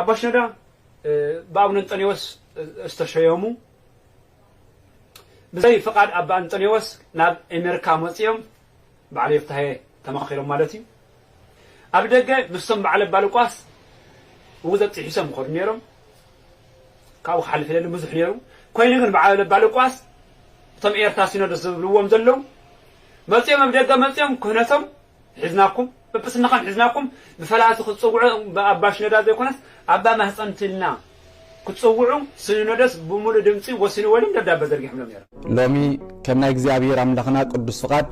ኣባ ሽኖዳ ብኣቡነ እንጠንዮስ ዝተሸየሙ ብዘይ ፍቓድ ኣባ እንጠንዮስ ናብ ኤሜርካ መጺኦም በዓል ዮፍታሄ ተማኺሮም ማለት እዩ ኣብ ደገ ምስቶም በዓል ኣባ ሉቃስ ውግዘት ጢሒሶም ይኸዱ ነይሮም ካብኡ ክሓልፍ የደሊ ብዙሕ ነይሩ ኮይኑ ግን በዓል ኣባ ሉቃስ እቶም ኤርትራ ሲኖዶስ ዝብልዎም ዘለዉ መጺኦም ኣብ ደገ መጺኦም ክህነቶም ሒዝናኩም ጵጵስና ከም ሒዝናኩም ብፈላቲ ክትጽውዑ ብኣባ ሽኖዳ ዘይኮነስ ኣባ ማህጸንቲ ኢልና ክትጽውዑ ስንኖዶስ ብሙሉእ ድምጺ ወሲንዎ ኢሎም ደብዳበ ዘርጊሖምሎም ነይሮም። ሎሚ ከም ናይ እግዚኣብሔር ኣምላኽና ቅዱስ ፍቓድ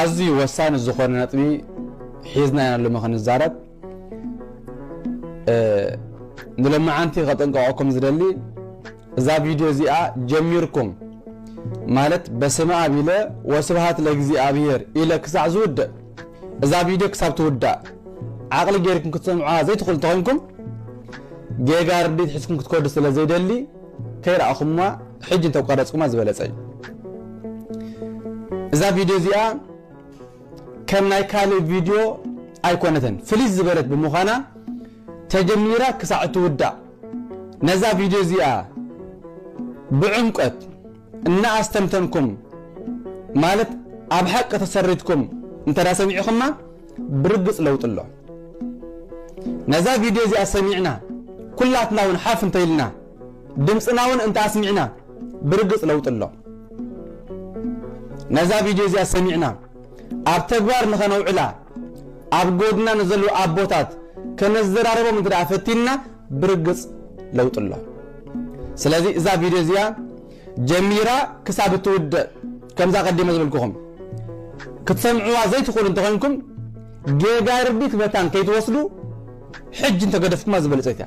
ኣዝዩ ወሳኒ ዝኾነ ነጥቢ ሒዝና ኢና ሎሚ ክንዛረብ። ንሎማዓንቲ ከጠንቀቐኩም ዝደሊ እዛ ቪድዮ እዚኣ ጀሚርኩም ማለት በስመኣብ ኢለ ወስብሃት ለእግዚኣብሄር ኢለ ክሳዕ ዝውድእ እዛ ቪድዮ ክሳብ ትውዳእ ዓቕሊ ጌርኩም ክትሰምዑዋ ዘይትኽእሉ እንተኾይንኩም ጌጋ ርድኢት ሒዝኩም ክትከዱ ስለ ዘይደሊ ከይረኣኹምዋ ሕጂ እንተቋረፅኩማ ዝበለፀ እዩ እዛ ቪድዮ እዚኣ ከም ናይ ካልእ ቪድዮ ኣይኮነትን ፍልይ ዝበለት ብምዃና ተጀሚራ ክሳዕ እትውዳእ ነዛ ቪድዮ እዚኣ ብዕምቆት እናኣስተንተንኩም ማለት ኣብ ሓቂ ተሰሪትኩም እንተ ሰሚዕኹማ ብርግፅ ለውጢ ኣሎ። ነዛ ቪድዮ እዚኣ ሰሚዕና ኩላትና እውን ሓፍ እንተኢልና ድምፅና እውን እንተ ኣስሚዕና ብርግፅ ለውጢ ኣሎ። ነዛ ቪድዮ እዚኣ ሰሚዕና ኣብ ተግባር ንኸነውዕላ ኣብ ጎድና ንዘለዉ ኣቦታት ከነዘራርቦም እንተ ደኣ ፈቲንና ብርግጽ ለውጢ ኣሎ። ስለዚ እዛ ቪድዮ እዚኣ ጀሚራ ክሳብ እትውድእ ከምዛ ቀዲመ ዝበልኩኹም ክትሰምዕዋ ዘይትኽእሉ እንተኾይንኩም ጌጋ ርዲት መታን ከይትወስዱ ሕጂ እንተገደፍኩማ ዝበለጸት እያ።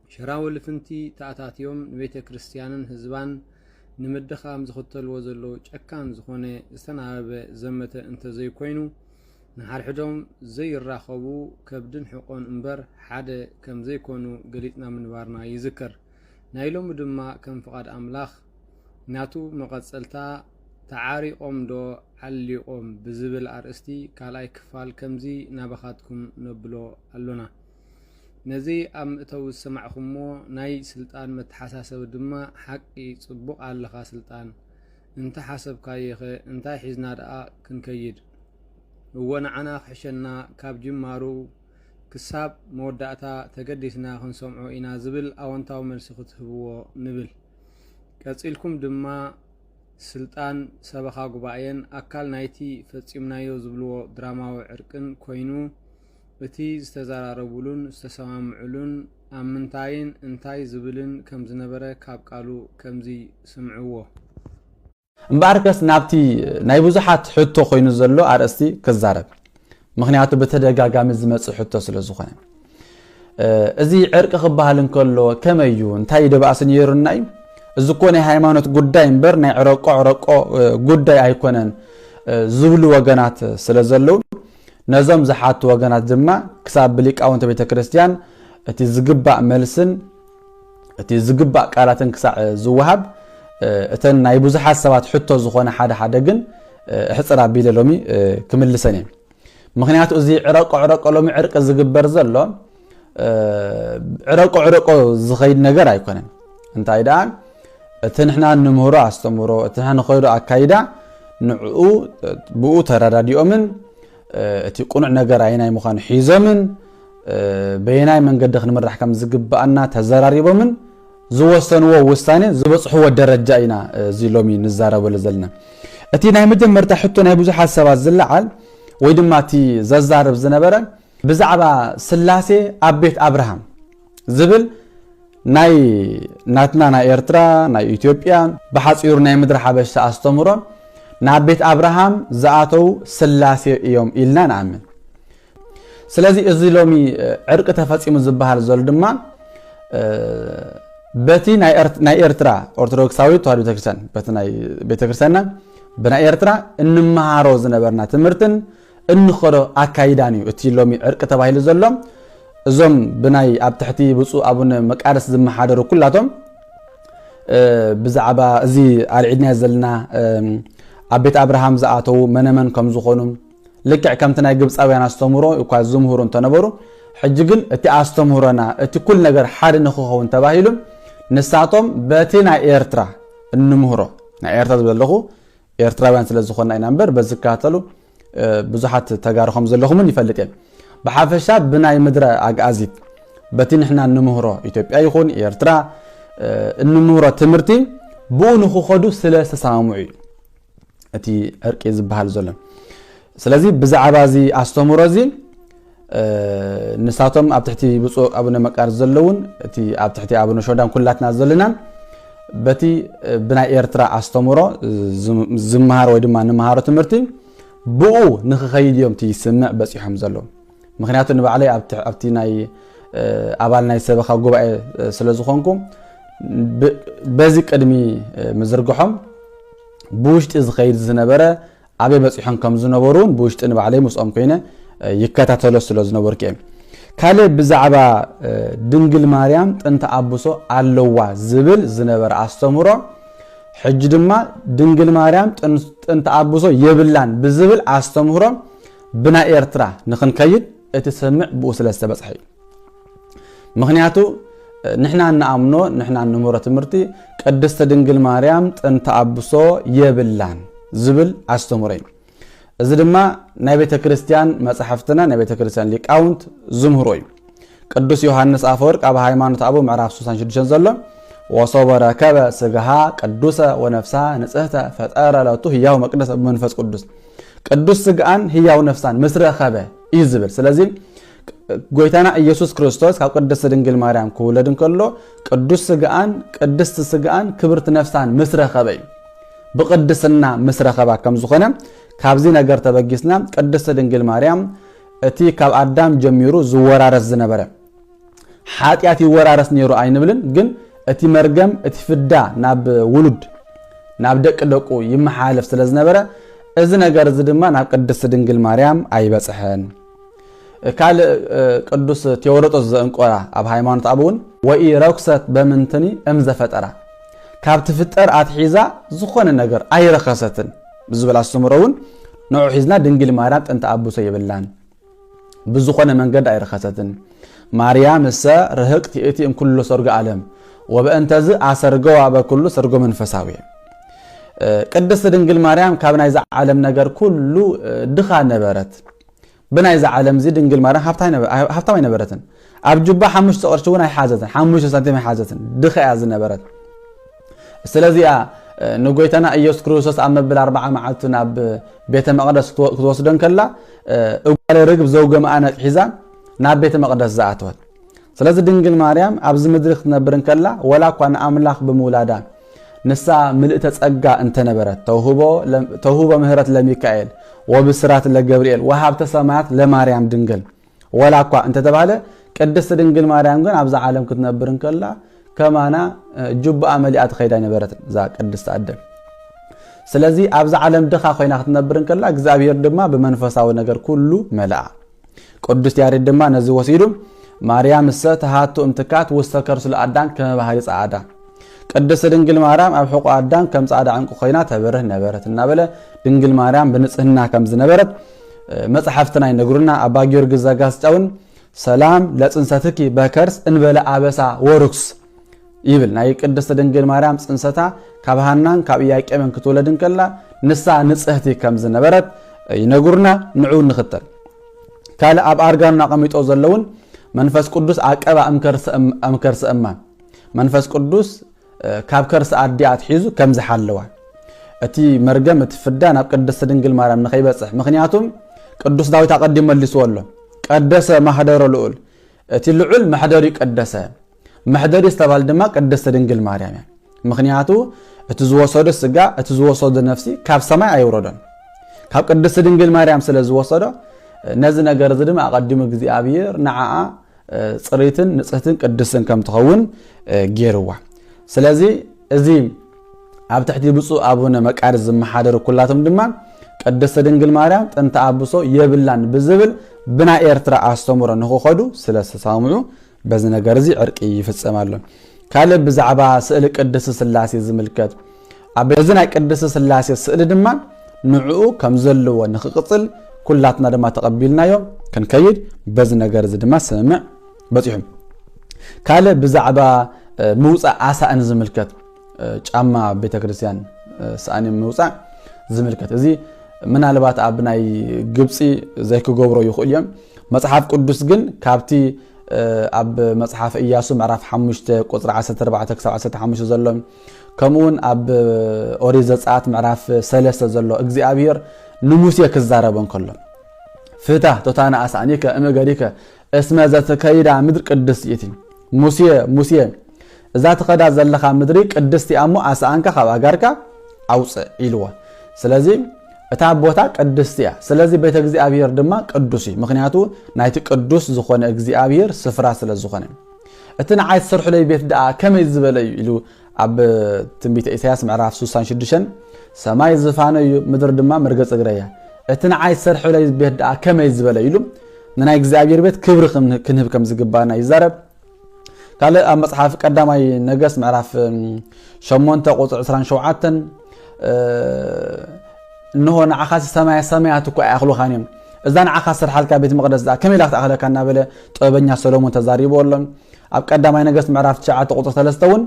ሽራዊ ልፍንቲ ተኣታትዮም ንቤተ ክርስትያንን ህዝባን ንምድኻም ዝኽተልዎ ዘለዉ ጨካን ዝኾነ ዝተናበበ ዘመተ እንተዘይኮይኑ ንሓድሕዶም ዘይራኸቡ ከብድን ሕቆን እምበር ሓደ ከምዘይኮኑ ገሊጽና ምንባርና ይዝከር። ናይ ሎሚ ድማ ከም ፍቓድ ኣምላኽ ናቱ መቐጸልታ ተዓሪቖም ዶ ዓሊቖም ብዝብል ኣርእስቲ ካልኣይ ክፋል ከምዚ ናባኻትኩም ነብሎ ኣሎና። ነዚ ኣብ ምእተዊ ዝሰማዕኩሞ ናይ ስልጣን መተሓሳሰቢ ድማ ሓቂ ጽቡቕ ኣለኻ ስልጣን እንተ ሓሰብካዮኸ እንታይ ሒዝና ደኣ ክንከይድ እወ ንዓና ክሕሸና ካብ ጅማሩ ክሳብ መወዳእታ ተገዲስና ክንሰምዖ ኢና ዝብል ኣወንታዊ መልሲ ክትህብዎ ንብል ቀጺልኩም ድማ ስልጣን ሰበኻ ጉባኤን ኣካል ናይቲ ፈጺምናዮ ዝብልዎ ድራማዊ ዕርቅን ኮይኑ እቲ ዝተዘራረቡሉን ዝተሰማምዑሉን ኣብ ምንታይን እንታይ ዝብልን ከም ዝነበረ ካብ ቃሉ ከምዚ ስምዕዎ። እምበኣርከስ ናብቲ ናይ ብዙሓት ሕቶ ኮይኑ ዘሎ ኣርእስቲ ክዛረብ፣ ምኽንያቱ ብተደጋጋሚ ዝመጽእ ሕቶ ስለ ዝኾነ። እዚ ዕርቂ ክበሃል እንከሎ ከመይ እዩ እንታይ ደባእሲ ነይሩና እዩ እዚ እኮ ናይ ሃይማኖት ጉዳይ እምበር ናይ ዕረቆ ዕረቆ ጉዳይ ኣይኮነን ዝብሉ ወገናት ስለ ዘለዉ ነዞም ዝሓቱ ወገናት ድማ ክሳብ ብሊቃውንተ ቤተ ክርስቲያን እቲ ዝግባእ መልስን እቲ ዝግባእ ቃላትን ክሳዕ ዝወሃብ እተን ናይ ብዙሓት ሰባት ሕቶ ዝኾነ ሓደ ሓደ ግን እሕፅር ኣቢለ ሎሚ ክምልሰን እየ ምክንያቱ እዚ ዕረቆ ዕረቆ ሎሚ ዕርቂ ዝግበር ዘሎ ዕረቆ ዕረቆ ዝኸይድ ነገር ኣይኮነን እንታይ ደኣ እቲ ንሕና ንምህሮ ኣስተምህሮ እቲ ንሕና ንኸይዶ ኣካይዳ ንዕኡ ብኡ ተረዳዲኦምን እቲ ቁኑዕ ነገር ኣይናይ ምዃኑ ሒዞምን በየናይ መንገዲ ክንምራሕ ከም ዝግብኣና ተዘራሪቦምን ዝወሰንዎ ውሳኔ ዝበፅሕዎ ደረጃ ኢና እዚ ሎሚ ንዛረበሉ ዘለና እቲ ናይ መጀመርታ ሕቶ ናይ ብዙሓት ሰባት ዝለዓል ወይ ድማ እቲ ዘዛርብ ዝነበረ ብዛዕባ ስላሴ ኣብ ቤት ኣብርሃም ዝብል ናይ ናትና ናይ ኤርትራ ናይ ኢትዮጵያ ብሓጺሩ ናይ ምድሪ ሓበሻ ኣስተምሮ ናብ ቤት ኣብርሃም ዝኣተው ስላሴ እዮም ኢልና ንኣምን ስለዚ እዚ ሎሚ ዕርቂ ተፈፂሙ ዝበሃል ዘሎ ድማ በቲ ናይ ኤርትራ ኦርቶዶክሳዊ ተዋህዶ ቤተክርስትያን በቲ ናይ ቤተክርስትያንና ብናይ ኤርትራ እንመሃሮ ዝነበርና ትምህርትን እንኸዶ ኣካይዳን እዩ እቲ ሎሚ ዕርቂ ተባሂሉ ዘሎ። እዞም ብናይ ኣብ ትሕቲ ብፁእ ኣቡነ መቃርስ ዝመሓደሩ ኩላቶም ብዛዕባ እዚ ኣርዒድናዮ ዘለና ኣብ ቤት ኣብርሃም ዝኣተዉ መነመን ከም ዝኾኑ ልክዕ ከምቲ ናይ ግብፃውያን ኣስተምህሮ እኳ ዝምህሩ እንተነበሩ ሕጂ ግን እቲ ኣስተምህሮና እቲ ኩል ነገር ሓደ ንክኸውን ተባሂሉ ንሳቶም በቲ ናይ ኤርትራ እንምህሮ ናይ ኤርትራ ዝብለ ኣለኹ ኤርትራውያን ስለ ዝኾና ኢና እምበር በዚ ዝከታተሉ ብዙሓት ተጋሩ ከም ዘለኹም እውን ይፈልጥ እየ ብሓፈሻ ብናይ ምድረ ኣግኣዚት በቲ ንሕና እንምህሮ ኢትዮጵያ ይኹን ኤርትራ እንምህሮ ትምህርቲ ብኡ ንክኸዱ ስለ ዝተሰማምዑ እዩ እቲ ዕርቂ ዝበሃል ዘሎ ስለዚ ብዛዕባ እዚ ኣስተምህሮ እዚ ንሳቶም ኣብ ትሕቲ ብፁዕ ኣቡነ መቃርስ ዘለውን እቲ ኣብ ትሕቲ ኣቡነ ሾዳን ኩላትና ዘለናን በቲ ብናይ ኤርትራ ኣስተምሮ ዝመሃር ወይ ድማ ንመሃሮ ትምህርቲ ብኡ ንክኸይድ እዮም እቲ ስምዕ በፂሖም ዘሎ ምክንያቱ ንባዕለይ ኣብቲ ናይ ኣባል ናይ ሰበኻ ጉባኤ ስለ ዝኾንኩ በዚ ቅድሚ ምዝርግሖም ብውሽጢ ዝኸይድ ዝነበረ ኣበይ በጺሖም ከም ዝነበሩ ውን ብውሽጢ ንባዕለይ ምስኦም ኮይነ ይከታተሎ ስለ ዝነበርኩ እየ። ካልእ ብዛዕባ ድንግል ማርያም ጥንተ ኣብሶ ኣለዋ ዝብል ዝነበረ ኣስተምህሮ ሕጂ ድማ ድንግል ማርያም ጥንተ ኣብሶ የብላን ብዝብል ኣስተምህሮ ብናይ ኤርትራ ንክንከይድ እቲ ስምምዕ ብኡ ስለ ዝተበጽሐ እዩ። ምክንያቱ ንሕና እንኣምኖ ንሕና እንምህሮ ትምህርቲ ቅድስቲ ድንግል ማርያም ጥንቲ ኣብሶ የብላን ዝብል ኣስተምሮ እዩ እዚ ድማ ናይ ቤተ ክርስቲያን መፅሕፍትና ናይ ቤተ ክርስቲያን ሊቃውንት ዝምህሮ እዩ ቅዱስ ዮሃንስ ኣፈወርቅ ኣብ ሃይማኖት ኣቦ ምዕራፍ 66 ዘሎ ወሶበ ረከበ ስጋሃ ቅዱሰ ወነፍሳ ንፅህተ ፈጠረ ለቱ ህያው መቅደስ ብመንፈስ ቅዱስ ቅዱስ ስጋኣን ህያው ነፍሳን ምስ ረኸበ እዩ ዝብል ስለዚ ጎይታና ኢየሱስ ክርስቶስ ካብ ቅድስቲ ድንግል ማርያም ክውለድ እንከሎ ቅዱስ ስግኣን ቅድስቲ ስግኣን ክብርቲ ነፍሳን ምስ ረኸበ እዩ ብቅድስና ምስ ረኸባ ከም ዝኾነ ካብዚ ነገር ተበጊስና ቅድስቲ ድንግል ማርያም እቲ ካብ ኣዳም ጀሚሩ ዝወራረስ ዝነበረ ሓጢኣት ይወራረስ ነይሩ ኣይንብልን፣ ግን እቲ መርገም እቲ ፍዳ ናብ ውሉድ ናብ ደቂ ደቁ ይመሓላለፍ ስለ ዝነበረ እዚ ነገር እዚ ድማ ናብ ቅድስቲ ድንግል ማርያም ኣይበፅሐን። ካልእ ቅዱስ ቴዎሮጦስ ዘእንቆራ ኣብ ሃይማኖት ኣብ እውን ወኢ ረኩሰት በምንትኒ እም ዘፈጠራ ካብ ትፍጠር ኣትሒዛ ዝኾነ ነገር ኣይረኸሰትን ብዝብል ኣስተምህሮ እውን ንዑ ሒዝና ድንግል ማርያም ጥንተ ኣቡሰ የብላን ብዝኾነ መንገዲ ኣይረኸሰትን ማርያም እሰ ርህቅት ይእቲ እምኩሉ ሰርጎ ኣለም ወበእንተዝ ኣሰርገዋ በኩሉ ሰርጎ መንፈሳዊ ቅድስት ድንግል ማርያም ካብ ናይዚ ዓለም ነገር ኩሉ ድኻ ነበረት ብናይዚ ዓለም እዚ ድንግል ማርያም ሃብታም ኣይነበረትን ኣብ ጁባ ሓሙሽተ ቅርሺ እውን ኣይሓዘትን ሓሙሽተ ሳንቲም ኣይሓዘትን ድኻ እያ ዝነበረት ስለዚኣ ንጎይታና ኢየሱስ ክርስቶስ ኣብ መብል ኣርባዓ መዓልቱ ናብ ቤተ መቅደስ ክትወስዶ ከላ እጓለ ርግብ ዘውገምኣ ነቅሒዛ ናብ ቤተ መቕደስ ዝኣተወት። ስለዚ ድንግል ማርያም ኣብዚ ምድሪ ክትነብር እንከላ ወላ እኳ ንኣምላኽ ብምውላዳ ንሳ ምልእተ ጸጋ እንተነበረት ተውህቦ ምህረት ለሚካኤል ወብስራት ለገብርኤል ወሃብተ ሰማያት ለማርያም ድንግል ወላ እኳ እንተተባህለ ቅድስቲ ድንግል ማርያም ግን ኣብዛ ዓለም ክትነብር እንከላ ከማና ጁባኣ መሊኣ ትኸይድ ኣይነበረትን እዛ ቅድስቲ ኣደ ስለዚ ኣብዛ ዓለም ድኻ ኮይና ክትነብር እንከላ እግዚኣብሄር ድማ ብመንፈሳዊ ነገር ኩሉ መልኣ ቅዱስ ያሬድ ድማ ነዚ ወሲዱ ማርያም እሰ ተሃቱ እምትካት ውስተ ከርሱ ለኣዳም ከመ ባህሪ ጸዓዳ ቅድስት ድንግል ማርያም ኣብ ሕቆ ኣዳም ከም ጻዕዳ ዕንቁ ኮይና ተበርህ ነበረት እናበለ ድንግል ማርያም ብንጽህና ከም ዝነበረት መጽሓፍትና ይነግሩና። ኣባ ጊዮርጊስ ዘጋስጫውን ሰላም ለጽንሰትኪ በከርስ እንበለ ኣበሳ ወርኩስ ይብል ናይ ቅድስት ድንግል ማርያም ጽንሰታ ካብ ሃናን ካብ ኢያቄምን ክትወለድ እንከላ ንሳ ንጽህቲ ከም ዝነበረት ይነግሩና ንዑ ንኽተል ካልእ ኣብ ኣርጋኑን ኣቐሚጦ ዘለውን መንፈስ ቅዱስ ኣቀባ እምከርሰ እማን መንፈስ ቅዱስ ካብ ከርሲ ኣዲኣ ኣትሒዙ ከም ዝሓለዋ እቲ መርገም እቲ ፍዳ ናብ ቅድስቲ ድንግል ማርያም ንኸይበፅሕ ምክንያቱም ቅዱስ ዳዊት ኣቐዲም መልስዎ ኣሎ ቀደሰ ማህደሮ ልኡል እቲ ልዑል መሕደሪ ቀደሰ መሕደሪ ዝተባል ድማ ቅድስቲ ድንግል ማርያም እያ። ምክንያቱ እቲ ዝወሰዶ ስጋ እቲ ዝወሰዶ ነፍሲ ካብ ሰማይ ኣይውረዶን ካብ ቅድስቲ ድንግል ማርያም ስለ ዝወሰዶ ነዚ ነገር እዚ ድማ ኣቐዲሙ እግዚኣብሔር ንዓኣ ፅሪትን ንፅህትን ቅድስትን ከም ትኸውን ገይርዋ ስለዚ እዚ ኣብ ትሕቲ ብፁዕ ኣቡነ መቃርስ ዝመሓደሩ ኩላቶም ድማ ቅድስቲ ድንግል ማርያም ጥንቲ ኣብሶ የብላን ብዝብል ብናይ ኤርትራ ኣስተምሮ ንክኸዱ ስለ ዝተሳምዑ በዚ ነገር እዚ ዕርቂ ይፍጸም ኣሎ። ካልእ ብዛዕባ ስእሊ ቅድስቲ ስላሴ ዝምልከት ኣብ እዚ ናይ ቅድስቲ ስላሴ ስእሊ ድማ ንዕኡ ከም ዘለዎ ንክቅጽል ኩላትና ድማ ተቐቢልናዮ ክንከይድ በዚ ነገር እዚ ድማ ስምምዕ በፂሑ ካልእ ብዛዕባ ምውፃእ ኣሳእን ዝምልከት ጫማ ኣብ ቤተክርስትያን ሳእኒ ምውፃእ ዝምልከት እዚ ምናልባት ኣብ ናይ ግብፂ ዘይክገብሮ ይኽእሉ እዮም መፅሓፍ ቅዱስ ግን ካብቲ ኣብ መጽሓፍ እያሱ ምዕራፍ 5 ቁፅሪ 14 ክሳብ 15 ዘሎ ከምኡውን ኣብ ኦሪት ዘፀኣት ምዕራፍ 3 ዘሎ እግዚኣብሄር ንሙሴ ክዛረበ እንከሎ ፍታ ቶታና ኣሳእኒከ እምእገሪከ እስመ ዘትከይዳ ምድር ቅድስት ይእቲ። ሙሴ ሙሴ እዛ ትኸዳ ዘለኻ ምድሪ ቅድስቲ እያ እሞ ኣስኣንካ ካብ ኣጋርካ ኣውፅእ ኢልዎ። ስለዚ እታ ቦታ ቅድስቲ እያ። ስለዚ ቤተ እግዚኣብሔር ድማ ቅዱስ እዩ። ምክንያቱ ናይቲ ቅዱስ ዝኾነ እግዚኣብሔር ስፍራ ስለ ዝኾነ እቲ ንዓይ ትሰርሑለይ ቤት ደኣ ከመይ ዝበለ እዩ ኢሉ ኣብ ትንቢተ ኢሳያስ ምዕራፍ ሱሳን ሽዱሸን ሰማይ ዝፋነ እዩ ምድር ድማ መርገፂ እግረ እያ እቲ ንዓይ ዝሰርሕለይ ቤት ደኣ ከመይ ዝበለ ኢሉ ንናይ እግዚኣብሔር ቤት ክብሪ ክንህብ ከም ዝግባና ይዛረብ ካልእ ኣብ መፅሓፍ ቀዳማይ ነገስ ምዕራፍ 8 ቁፅሪ 27 እንሆ ንዓኻ ሰማያ ሰማያት እኳ ኣይኣኽሉኻን እዮም እዛ ንዓኻ ስርሓልካ ቤት መቅደስ ከመይ ኢላ ክትኣኽለካ እናበለ ጥበበኛ ሰሎሞን ተዛሪቦ ኣሎ ኣብ ቀዳማይ ነገስት ምዕራፍ ትሽዓተ ቁፅሪ ሰለስተ እውን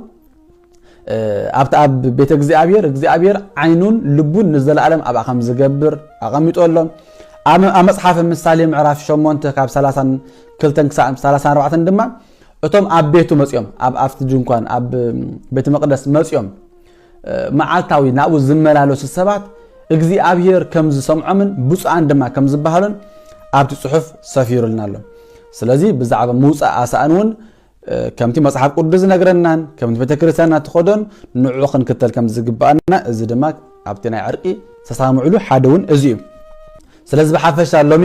ኣብቲ ኣብ ቤተ እግዚኣብሔር እግዚኣብሔር ዓይኑን ልቡን ንዘለኣለም ኣብኣ ከም ዝገብር ኣቐሚጦ ኣሎ ኣብ መፅሓፍ ምሳሌ ምዕራፍ ሸሞንተ ካብ ሰላሳን ክልተን ክሳብ ሰላሳን ኣርባዕተን ድማ እቶም ኣብ ቤቱ መፅኦም ኣብ ኣብቲ ድንኳን ኣብ ቤተ መቅደስ መፅኦም መዓልታዊ ናብኡ ዝመላለሱ ሰባት እግዚኣብሄር ከም ዝሰምዖምን ብፁዓን ድማ ከም ዝበሃሉን ኣብቲ ጽሑፍ ሰፊሩልና ኣሎ። ስለዚ ብዛዕባ ምውፃእ ኣሳእን እውን ከምቲ መጽሓፍ ቅዱስ ዝነግረናን ከምቲ ቤተ ክርስቲያንና ትኸዶን ንዑ ክንክተል ከም ዝግባኣና እዚ ድማ ኣብቲ ናይ ዕርቂ ተሳምዕሉ ሓደ እውን እዚ እዩ ስለዚ ብሓፈሻ ሎሚ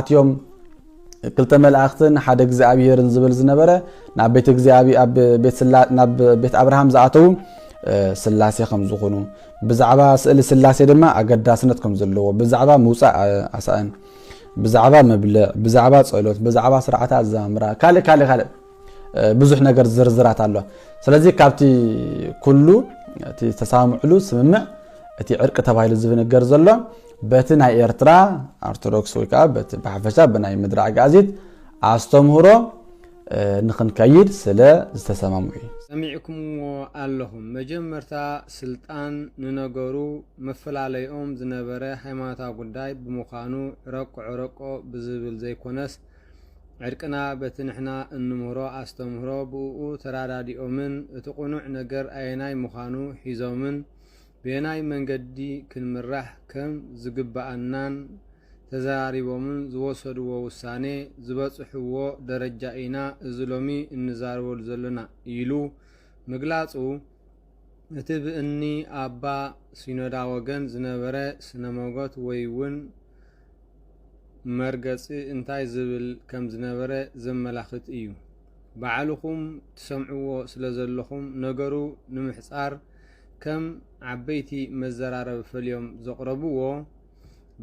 ኣትዮም ክልተ መላእኽትን ሓደ እግዚኣብሔርን ዝብል ዝነበረ ናብ ቤት እግዚኣብ ኣብ ናብ ቤት ኣብርሃም ዝኣተዉ ስላሴ ከም ዝኾኑ ብዛዕባ ስእሊ ስላሴ ድማ ኣገዳስነት ከም ዘለዎ ብዛዕባ ምውፃእ ኣሳእን ብዛዕባ መብልዕ ብዛዕባ ፀሎት ብዛዕባ ስርዓተ ኣዛምራ ካልእ ካልእ ካልእ ብዙሕ ነገር ዝርዝራት ኣሎ ስለዚ ካብቲ ኩሉ እቲ ዝተሰማምዕሉ ስምምዕ እቲ ዕርቂ ተባሂሉ ዝብንገር ዘሎ በቲ ናይ ኤርትራ ኦርቶዶክስ ወይ ከዓ በቲ ብሓፈሻ ብናይ ምድሪ ኣግኣዚት ኣስተምህሮ ንክንከይድ ስለ ዝተሰማምዑ እዩ ሰሚዕኩምዎ ኣለኹም መጀመርታ ስልጣን ንነገሩ መፈላለይኦም ዝነበረ ሃይማኖታዊ ጉዳይ ብምዃኑ ዕረቁ ዕረቆ ብዝብል ዘይኮነስ ዕርቅና በቲ ንሕና እንምህሮ ኣስተምህሮ ብእኡ ተራዳዲኦምን እቲ ቕኑዕ ነገር ኣየናይ ምዃኑ ሒዞምን በየናይ መንገዲ ክንምራሕ ከም ዝግብኣናን ተዘራሪቦምን ዝወሰድዎ ውሳኔ ዝበጽሕዎ ደረጃ ኢና እዚ ሎሚ እንዛረበሉ ዘሎና ኢሉ ምግላጹ እቲ ብእኒ ኣባ ሲኖዳ ወገን ዝነበረ ስነ ሞጎት ወይ እውን መርገጺ እንታይ ዝብል ከም ዝነበረ ዘመላኽት እዩ። ባዕልኹም ትሰምዕዎ ስለ ዘለኹም ነገሩ ንምሕጻር ከም ዓበይቲ መዘራረቢ ፈልዮም ዘቕረብዎ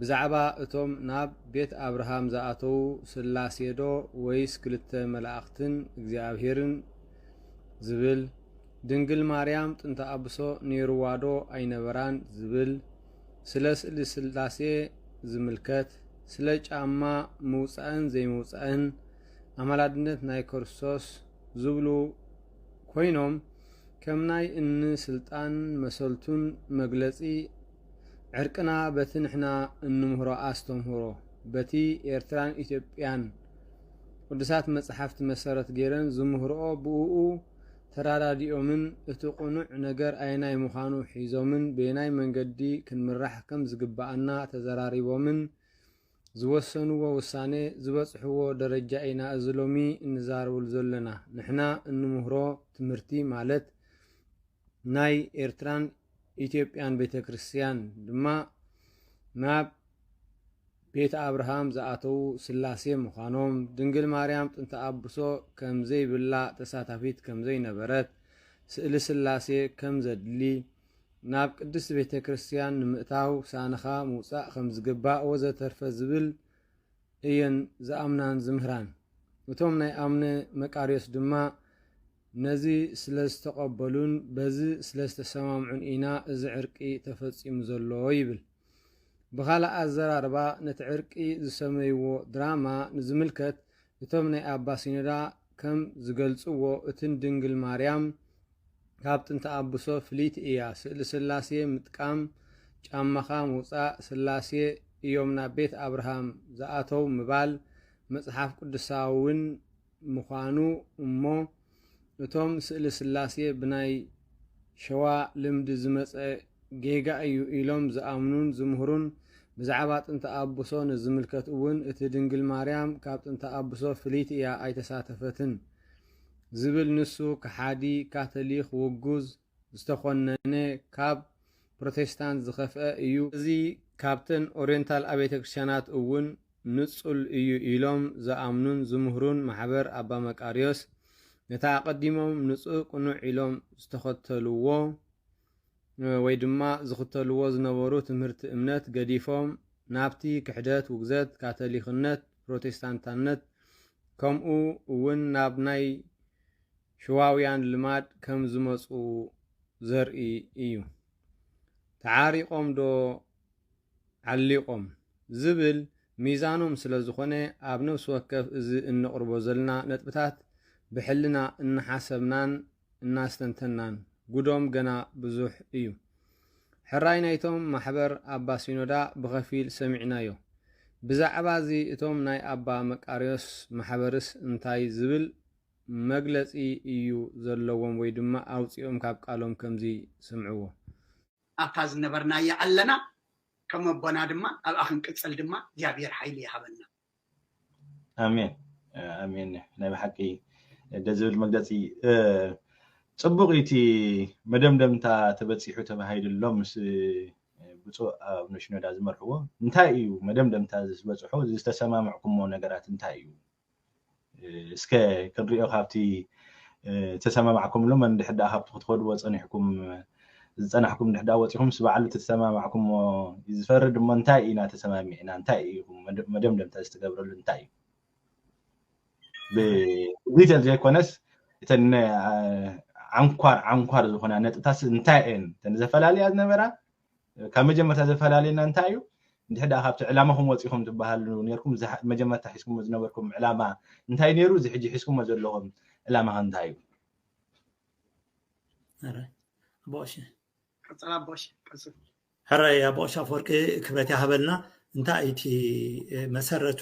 ብዛዕባ እቶም ናብ ቤት ኣብርሃም ዝኣተዉ ስላሴዶ ወይስ ክልተ መላእኽትን እግዚኣብሔርን ዝብል ድንግል ማርያም ጥንተ ኣብሶ ነይርዋዶ ኣይነበራን ዝብል ስለ ስእሊ ስላሴ ዝምልከት፣ ስለ ጫማ ምውጻእን ዘይምውጻእን፣ ኣማላድነት ናይ ከርሶስ ዝብሉ ኮይኖም ከም ናይ እን ስልጣን መሰልቱን መግለጺ ዕርቅና በቲ ንሕና እንምህሮ ኣስተምህሮ በቲ ኤርትራን ኢትዮጵያን ቅዱሳት መጽሓፍቲ መሰረት ገይረን ዝምህርኦ ብእኡ ተራዳዲኦምን እቲ ቅኑዕ ነገር ኣየናይ ምዃኑ ሒዞምን በየናይ መንገዲ ክንምራሕ ከም ዝግብኣና ተዘራሪቦምን ዝወሰንዎ ውሳነ ዝበጽሕዎ ደረጃ ኢና እዚ ሎሚ እንዛረበሉ ዘሎና ንሕና እንምህሮ ትምህርቲ ማለት ናይ ኤርትራን ኢትዮጵያን ቤተክርስትያን ድማ ናብ ቤት ኣብርሃም ዝኣተዉ ስላሴ ምዃኖም፣ ድንግል ማርያም ጥንተ ኣብሶ ከም ዘይብላ ተሳታፊት ከም ዘይነበረት፣ ስእሊ ስላሴ ከም ዘድሊ፣ ናብ ቅድስት ቤተ ክርስቲያን ንምእታው ሳንኻ ምውጻእ ከም ዝግባእ ወዘተርፈ ዝብል እየን ዝኣምናን ዝምህራን። እቶም ናይ ኣምነ መቃርዮስ ድማ ነዚ ስለ ዝተቐበሉን በዚ ስለ ዝተሰማምዑን ኢና እዚ ዕርቂ ተፈጺሙ ዘሎ ይብል። ብኻልእ ኣዘራርባ ነቲ ዕርቂ ዝሰመይዎ ድራማ ንዝምልከት እቶም ናይ ኣባ ሲኖዳ ከም ዝገልጽዎ እቲ ንድንግል ማርያም ካብ ጥንቲ ኣቡሶ ፍልይቲ እያ ስእሊ ስላሴ ምጥቃም ጫማኻ ምውጻእ ስላሴ እዮም ናብ ቤት ኣብርሃም ዝኣተው ምባል መጽሓፍ ቅዱሳውን ምዃኑ እሞ እቶም ስእሊ ስላሴ ብናይ ሸዋ ልምዲ ዝመጸ ጌጋ እዩ ኢሎም ዝኣምኑን ዝምህሩን ብዛዕባ ጥንተ ኣቡሶ ንዝምልከት እውን እቲ ድንግል ማርያም ካብ ጥንተ ኣቡሶ ፍልይቲ እያ ኣይተሳተፈትን ዝብል ንሱ ከሓዲ ካቶሊኽ ውጉዝ ዝተኾነነ ካብ ፕሮቴስታንት ዝኸፍኣ እዩ፣ እዚ ካብተን ኦርየንታል ኣብያተ ክርስቲያናት እውን ንጹል እዩ ኢሎም ዝኣምኑን ዝምህሩን ማሕበር ኣባ መቃርዮስ ነቲ ኣቐዲሞም ንጹህ ቅኑዕ ኢሎም ዝተኸተልዎ ወይ ድማ ዝኽተልዎ ዝነበሩ ትምህርቲ እምነት ገዲፎም ናብቲ ክሕደት ውግዘት ካቶሊኽነት ፕሮቴስታንታነት ከምኡ እውን ናብ ናይ ሽዋውያን ልማድ ከም ዝመጹ ዘርኢ እዩ። ተዓሪቖም ዶ ዓሊቖም? ዝብል ሚዛኖም ስለ ዝኾነ ኣብ ነብሲ ወከፍ እዚ እነቕርቦ ዘልና ነጥብታት ብሕልና እናሓሰብናን እናስተንተንናን ጉዶም ገና ብዙሕ እዩ። ሕራይ ናይቶም ማሕበር ኣባ ሲኖዳ ብኸፊል ሰሚዕናዮ። ብዛዕባ እዚ እቶም ናይ ኣባ መቃርዮስ ማሕበርስ እንታይ ዝብል መግለጺ እዩ ዘለዎም ወይ ድማ ኣውጺኦም ካብ ቃሎም ከምዚ ስምዕዎ። ኣብታ ዝነበርናያ ኣለና ከም ኣቦና ድማ ኣብኣ ክንቅጽል ድማ እግዚኣብሄር ሓይሊ ይሃበና። ኣሜን ኣሜን ናይ ብሓቂ ደስ ዝብል መግለጺ ጽቡቅ እዩ እቲ መደምደምታ ተበጺሑ ተባሂሉሎም ምስ ብፁዕ ኣቡነ ሽኖዳ ዝመርሕዎ እንታይ እዩ መደምደምታ ዝበጽሑ ዝተሰማምዕኩሞ ነገራት እንታይ እዩ እስከ ክንሪኦ ካብቲ ዝተሰማማዕኩምሉ መን ድሕር ደኣ ካብቲ ክትኸድዎ ፀኒሕኩም ዝፀናሕኩም ድሕር ደኣ ወፂኹም ምስ በዓሉ እቲ ተሰማማዕኩሞ እዩ ዝፈርድ እሞ እንታይ ኢና ተሰማሚዕና እንታይ እዩ መደምደምታ ዝተገብረሉ እንታይ እዩ ብዲቴል ዘይኮነስ እተን ዓንኳር ዓንኳር ዝኾና ነጥብታት እንታይ እየን እተን ዘፈላልያ ዝነበራ ካብ መጀመርታ ዘፈላለየና እንታይ እዩ እንድሕር ደኣ ካብቲ ዕላማኹም ወፂኹም ትበሃሉ ነርኩም መጀመርታ ሒዝኩሞ ዝነበርኩም ዕላማ እንታይ ነይሩ እዚ ሕጂ ሒዝኩሞ ዘለኹም ዕላማ እንታይ እዩ ኣቦሽ ቀፅላ ኣቦሽ ቀፅል ሕራይ ኣቦሽ ኣፈወርቂ ክብረት ይሃበልና እንታይ እቲ መሰረቱ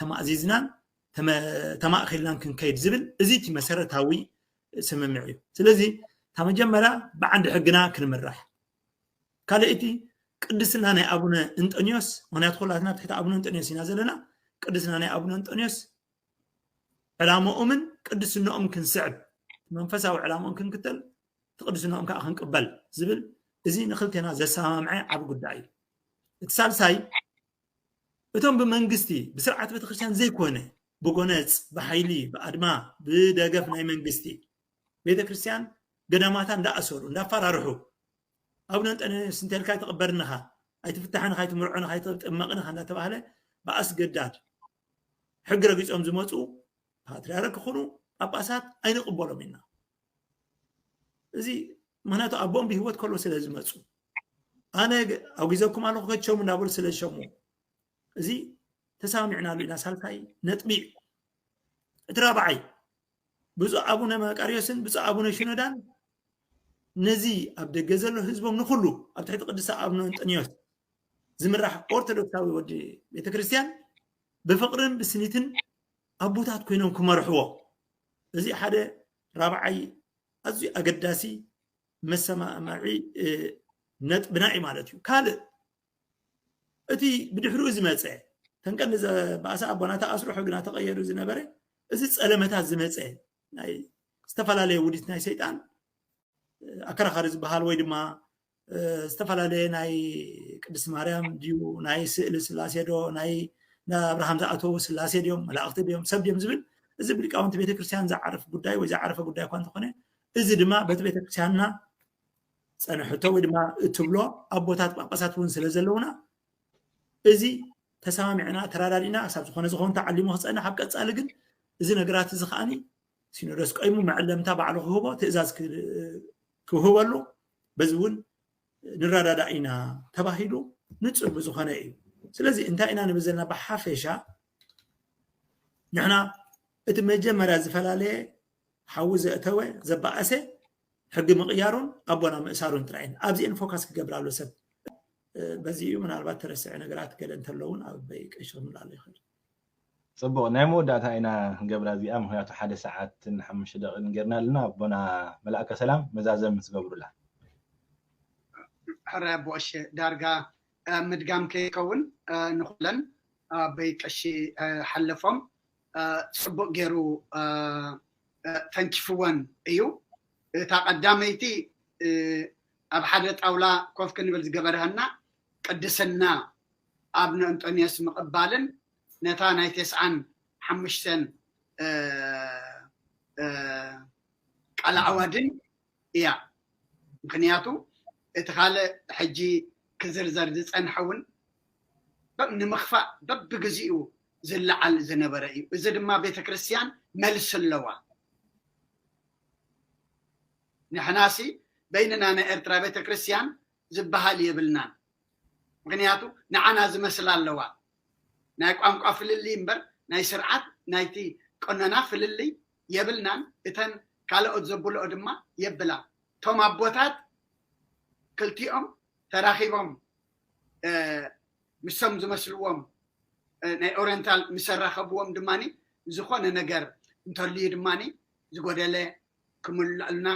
ተማእዚዝናን ተማእኺልናን ክንከይድ ዝብል እዚ እቲ መሰረታዊ ስምምዕ እዩ ስለዚ እታ መጀመርያ ብዓንዲ ሕግና ክንምራሕ ካልእቲ ቅድስና ናይ ኣቡነ እንጠንዮስ ምክንያቱ ኩላትና ትሕቲ ኣቡነ እንጠንዮስ ኢና ዘለና ቅድስና ናይ ኣቡነ እንጠንዮስ ዕላማኦምን ቅድስናኦም ክንስዕብ መንፈሳዊ ዕላማኦም ክንክተል ትቅድስናኦም ከዓ ክንቅበል ዝብል እዚ ንክልቴና ዘሰማምዐ ዓብ ጉዳይ እዩ እቲ ሳልሳይ እቶም ብመንግስቲ ብስርዓት ቤተክርስትያን ዘይኮነ ብጎነጽ ብሓይሊ ብኣድማ ብደገፍ ናይ መንግስቲ ቤተክርስትያን ገዳማታ እንዳኣሰሩ እንዳፈራርሑ ኣቡነ እንጠንዮስ እንተልካ ኣይትቕበርን ኢኻ ኣይትፍታሕን ኢኻ ኣይትምርዖን ኢኻ ኣይትጥመቕን ኢኻ እንዳተባህለ ብኣስገዳድ ሕጊ ረጊጾም ዝመፁ ፓትርያርክ ክኹኑ ጳጳሳት ኣይንቕበሎም ኢና እዚ ምክንያቱ ኣቦኦም ብሂወት ከሎ ስለ ዝመፁ ኣነ ኣውጊዘኩም ኣለኹ ከቸሙ እናበሉ ስለ ዝሸሙ እዚ ተሰማሚዕናሉ ኢና ሳልሳይ ነጥቢ እዩ እቲ ራብዓይ ብፁዕ ኣቡነ መቃርዮስን ብፁዕ ኣቡነ ሽኖዳን ነዚ ኣብ ደገ ዘሎ ህዝቦም ንኩሉ ኣብ ትሕቲ ቅዱስ ኣቡነ እንጠንዮስ ዝምራሕ ኦርቶዶክሳዊ ወዲ ቤተክርስትያን ብፍቅርን ብስኒትን ኣቦታት ኮይኖም ክመርሕዎ እዚ ሓደ ራብዓይ ኣዝዩ ኣገዳሲ መሰማማዒ ነጥብና እዩ ማለት እዩ ካልእ እቲ ብድሕሪኡ ዝመፀ ተንቀን ባእሳ ኣቦና ተኣስርሖ ግና ተቐየሩ ዝነበረ እዚ ፀለመታት ዝመፀ ናይ ዝተፈላለየ ውዲት ናይ ሰይጣን ኣከራኻሪ ዝበሃል ወይ ድማ ዝተፈላለየ ናይ ቅድስቲ ማርያም ድዩ ናይ ስእሊ ስላሴ ዶ ናይ ኣብርሃም ዝኣተዉ ስላሴ ድዮም መላእኽቲ ድዮም ሰብ ድዮም ዝብል እዚ ብሊቃውንቲ ቤተክርስትያን ዝዓርፍ ጉዳይ ወይ ዝዓረፈ ጉዳይ እኳ እንተኾነ እዚ ድማ በቲ ቤተክርስትያንና ፀንሕቶ ወይ ድማ እትብሎ ኣቦታት ጳጳሳት እውን ስለ ዘለውና እዚ ተሰማሚዕና ተረዳዲእና ክሳብ ዝኾነ ዝኸውን ተዓሊሙ ክፀንሕ ኣብ ቀፃሊ ግን እዚ ነገራት እዚ ከዓኒ ሲኖዶስ ቀይሙ መዐለምታ ባዕሉ ክህቦ ትእዛዝ ክውህበሉ በዚ እውን ንረዳዳእ ኢና ተባሂሉ ንፁር ብዝኾነ እዩ ስለዚ እንታይ ኢና ንብል ዘለና ብሓፈሻ ንሕና እቲ መጀመርያ ዝፈላለየ ሓዊ ዘእተወ ዘባእሰ ሕጊ ምቕያሩን ኣቦና ምእሳሩን ጥራይ እየን ኣብዚአን ፎካስ ክገብር ኣሎ ሰብ በዚ እዩ ምናልባት ተረስዐ ነገራት ገለ እንተለውን ኣብ ቀይሸ ምላሎ ይኽእል ጽቡቅ ናይ መወዳእታ ኢና ክንገብራ እዚኣ ምክንያቱ ሓደ ሰዓትን ሓሙሽተ ደቂቅን ጌርና ኣለና ኣቦና መልኣከ ሰላም መዛዘሚ ምስ ገብሩላ። ሕራይ ኣቦ ቀሺ ዳርጋ ምድጋም ከይከውን ንኩለን ኣቦይ ቀሺ ሓለፎም ጽቡቅ ጌሩ ተንኪፍወን እዩ እታ ቀዳመይቲ ኣብ ሓደ ጣውላ ኮፍ ክንብል ዝገበረሀና ቅድስና ኣብነ እንጦንዮስ ምቕባልን ነታ ናይ ተስዓን ሓሙሽተን ቃለዓዋድን እያ። ምኽንያቱ እቲ ካልእ ሕጂ ክዝርዘር ዝጸንሐ እውን ንምኽፋእ በብግዜኡ ዝለዓል ዝነበረ እዩ። እዚ ድማ ቤተ ክርስቲያን መልሲ ኣለዋ። ንሕናሲ በይንና ናይ ኤርትራ ቤተ ክርስቲያን ዝበሃል የብልናን። ምኽንያቱ ንዓና ዝመስላ ኣለዋ ናይ ቋንቋ ፍልልይ እምበር ናይ ስርዓት ናይቲ ቀኖና ፍልልይ የብልናን እተን ካለኦት ዘብልኦ ድማ የብላ እቶም ኣቦታት ክልቲኦም ተራኺቦም ምሶም ዝመስልዎም ናይ ኦሪንታል ምሰራኸብዎም ድማ ዝኾነ ነገር እንተልዩ ድማ ዝጎደለ ክምልኣልና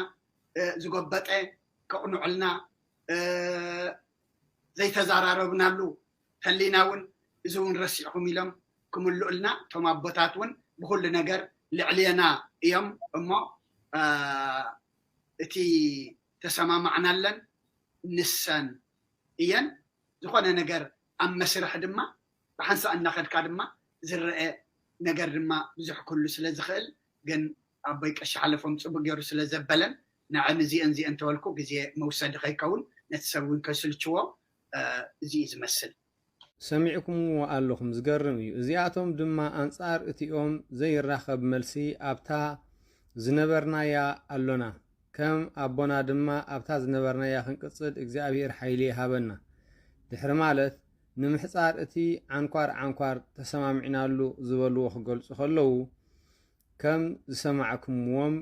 ዝጎበጠ ከቕንዑልና ዘይተዛራረብናሉ ተሊና ውን እዚ ውን ረሲዕኹም ኢሎም ክምልኡልና እቶም ኣቦታት ውን ብኹሉ ነገር ልዕሌና እዮም እሞ እቲ ተሰማማዕናለን ንሰን እየን ዝኾነ ነገር ኣብ መስርሕ ድማ ብሓንሳእ እናኸድካ ድማ ዝረኣ ነገር ድማ ብዙሕ ክህሉ ስለዝኽእል ግን ኣቦይ ቀሺ ሓለፎም ጽቡቅ ጌሩ ስለ ዘበለን ንዐ ንዚኤን ዚኤን ተበልኩ ግዜ መውሰዲ ከይከውን ነቲ ሰብ ውን ከይስልችዎ እዚ እዩ ዝመስል። ሰሚዕኩምዎ ኣለኹም ዝገርም እዩ እዚኣቶም ድማ ኣንጻር እቲኦም ዘይራኸብ መልሲ ኣብታ ዝነበርናያ ኣሎና ከም ኣቦና ድማ ኣብታ ዝነበርናያ ክንቅጽል እግዚኣብሄር ሓይሊ ይሃበና ድሕሪ ማለት ንምሕጻር እቲ ዓንኳር ዓንኳር ተሰማሚዕናሉ ዝበልዎ ክገልጹ ከለዉ ከም ዝሰማዕኩምዎም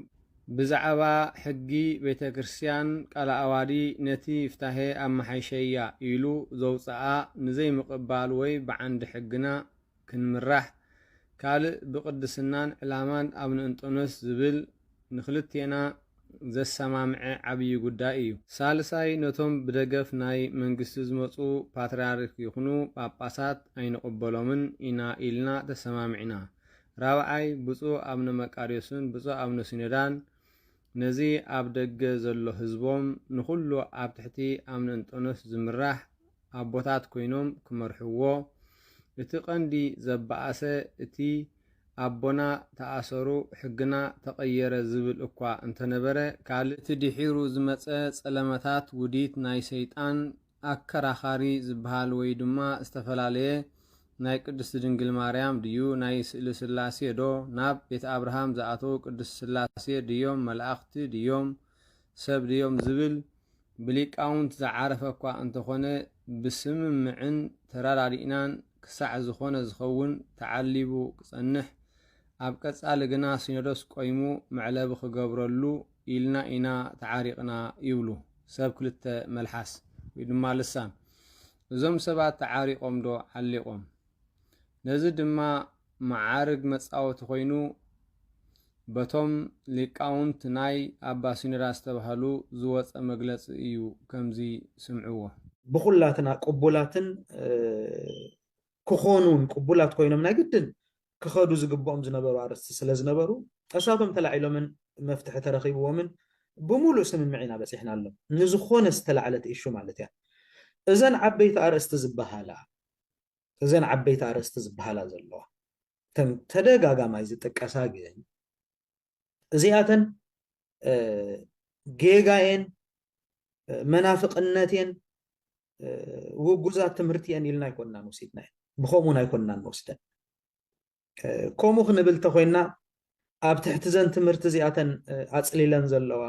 ብዛዕባ ሕጊ ቤተ ክርስቲያን ቃለ ኣዋዲ ነቲ ፍታሄ ኣመሓይሸያ ኢሉ ዘውጸኣ ንዘይምቕባል ወይ ብዓንዲ ሕግና ክንምራሕ ካልእ ብቅድስናን ዕላማን ኣብ ንእንጦንዮስ ዝብል ንክልቴና ዘሰማምዐ ዓብዪ ጉዳይ እዩ። ሳልሳይ ነቶም ብደገፍ ናይ መንግስቲ ዝመጹ ፓትርያርክ ይኹኑ ጳጳሳት ኣይንቕበሎምን ኢና ኢልና ተሰማሚዕና። ራብዓይ፣ ብፁዕ ኣብነ መቃርዮስን ብፁዕ ኣብነ ሲኖዳን ነዚ ኣብ ደገ ዘሎ ሕዝቦም ንኹሉ ኣብ ትሕቲ ኣብነ እንጦንዮስ ዝምራሕ ኣቦታት ኮይኖም ክመርሕዎ፣ እቲ ቀንዲ ዘባኣሰ እቲ ኣቦና ተኣሰሩ ሕግና ተቐየረ ዝብል እኳ እንተነበረ ካልእ እቲ ድሒሩ ዝመጸ ጸለመታት ውዲት ናይ ሰይጣን ኣከራኻሪ ዝብሃል ወይ ድማ ዝተፈላለየ ናይ ቅድስት ድንግል ማርያም ድዩ ናይ ስእሊ ስላሴ ዶ ናብ ቤት ኣብርሃም ዝኣተዉ ቅድስት ስላሴ ድዮም መላእኽቲ ድዮም ሰብ ድዮም ዝብል ብሊቃውንት ዝዓረፈ እኳ እንተኾነ ብስምምዕን ተረዳዲእናን ክሳዕ ዝኾነ ዝኸውን ተዓሊቡ ክጸንሕ ኣብ ቀጻሊ ግና ሲኖዶስ ቆይሙ መዕለቢ ክገብረሉ ኢልና ኢና ተዓሪቕና ይብሉ ሰብ ክልተ መልሓስ ወይ ድማ ልሳን። እዞም ሰባት ተዓሪቖም ዶ ዓሊቖም? ነዚ ድማ መዓርግ መጻወቲ ኮይኑ በቶም ሊቃውንት ናይ ኣባ ሲኖዳ ዝተባህሉ ዝወጸ መግለጺ እዩ ከምዚ ስምዕዎ። ብኹላትና ቅቡላትን ክኾኑን ቅቡላት ኮይኖም ናይ ግድን ክኸዱ ዝግብኦም ዝነበሩ ኣርእስቲ ስለ ዝነበሩ ጠሻቶም ተላዒሎምን መፍትሒ ተረኺብዎምን ብሙሉእ ስምምዕ ኢና በፂሕናሎም። ንዝኾነ ዝተላዕለት ኢሹ ማለት እያ። እዘን ዓበይቲ ኣርእስቲ ዝበሃላ እዘን ዓበይቲ ኣርእስቲ ዝበሃላ ዘለዋ እተን ተደጋጋማይ ዝጥቀሳ ግን እዚኣተን ጌጋ እየን፣ መናፍቕነት እየን፣ ውጉዛት ትምህርቲ እየን ኢልና ኣይኮንናን ወሲድናየን፣ ብኸምኡን ኣይኮንናን ንወስደን። ከምኡ ክንብል እንተኾይንና ኣብ ትሕቲ ዘን ትምህርቲ እዚኣተን ኣፅሊለን ዘለዋ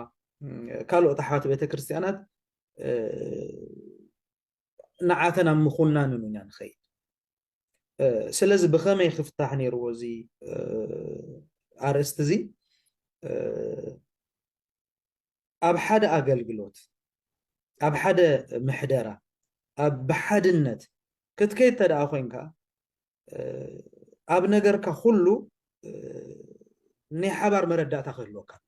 ካልኦት ኣሕዋት ቤተ ክርስቲያናት ንዓተን ኣብ ምኹናን ኢና ንኸይድ። ስለዚ ብኸመይ ክፍታሕ ነይርዎ እዚ ኣርእስቲ እዚ ኣብ ሓደ ኣገልግሎት ኣብ ሓደ ምሕደራ ኣብ ብሓድነት ክትከይድ ተደኣ ኮንካ ኣብ ነገርካ ኩሉ ናይ ሓባር መረዳእታ ክህልወካ ኣሎ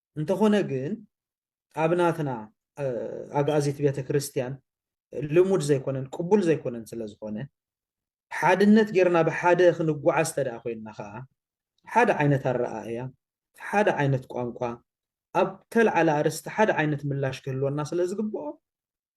እንተኾነ ግን ኣብ ናትና ኣግኣዚት ቤተ ክርስቲያን ልሙድ ዘይኮነን ቅቡል ዘይኮነን ስለ ዝኾነ ሓድነት ጌርና ብሓደ ክንጓዓዝ እንተ ኮይንና ከዓ ሓደ ዓይነት ኣረኣእያ ሓደ ዓይነት ቋንቋ ኣብ ተልዓለ ኣርስቲ ሓደ ዓይነት ምላሽ ክህልወና ስለ ዝግብኦ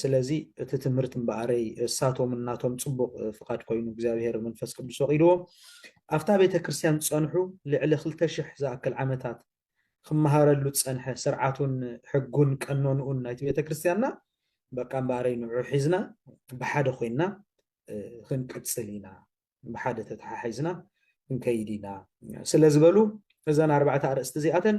ስለዚ እቲ ትምህርት እምበኣረይ እሳቶም እናቶም ጽቡቅ ፍቃድ ኮይኑ እግዚኣብሔር መንፈስ ቅዱስ ፈቂድዎ ኣብታ ቤተ ክርስትያን ዝጸንሑ ልዕሊ ክልተ ሽሕ ዝኣክል ዓመታት ክመሃረሉ ዝጸንሐ ስርዓቱን ሕጉን ቀኖንኡን ናይቲ ቤተ ክርስትያንና በቃ እምበኣረይ ንዑ ሒዝና ብሓደ ኮይንና ክንቅጽል ኢና ብሓደ ተተሓሒዝና ክንከይድ ኢና ስለዝበሉ እዘን ኣርባዕተ ኣርእስቲ እዚኣተን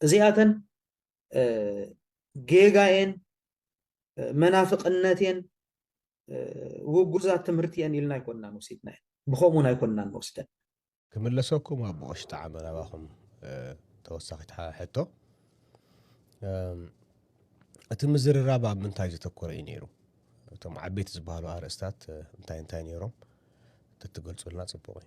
እዚኣተን ጌጋ እየን፣ መናፍቕነት እየን፣ ውጉዛት ትምህርቲ እየን ኢልና ኣይኮንናን ወሲድናየን፣ ብኸምኡ እውን ኣይኮንናን ንወስደን። ክምለሰኩም ኣቦ ቐሺ ጠዓመ ናባኹም ተወሳኺት ሕቶ እቲ ምዝርራብ ኣብ ምንታይ ዘተኮረ እዩ ነይሩ? እቶም ዓበይቲ ዝበሃሉ ኣርእስታት እንታይ እንታይ ነይሮም? ተትገልፁልና ፅቡቕ እዩ።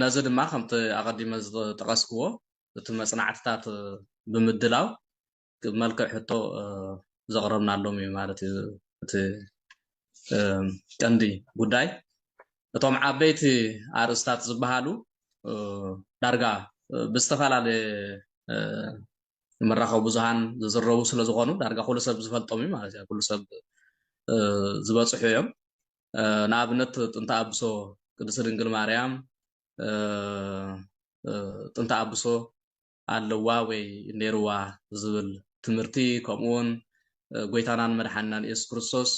ነዚ ድማ ከምቲ ኣቐዲመ ዝጠቐስክዎ እቲ መጽናዕትታት ብምድላው ብመልክዕ ሕቶ ዘቕረብናሎም እዩ ማለት እዩ እቲ ቀንዲ ጉዳይ እቶም ዓበይቲ ኣርእስታት ዝበሃሉ ዳርጋ ብዝተፈላለየ መራኸቢ ብዙሃን ዝዝረቡ ስለ ዝኾኑ ዳርጋ ኩሉ ሰብ ዝፈልጦም እዩ ማለት እዩ ኩሉ ሰብ ዝበፅሑ እዮም ንኣብነት ጥንተ ኣብሶ ቅድስት ድንግል ማርያም ጥንተ ኣብሶ ኣለዋ ወይ ኔርዋ ዝብል ትምህርቲ ከምኡ ውን ጎይታናን መድሓንናን ኢየሱስ ክርስቶስ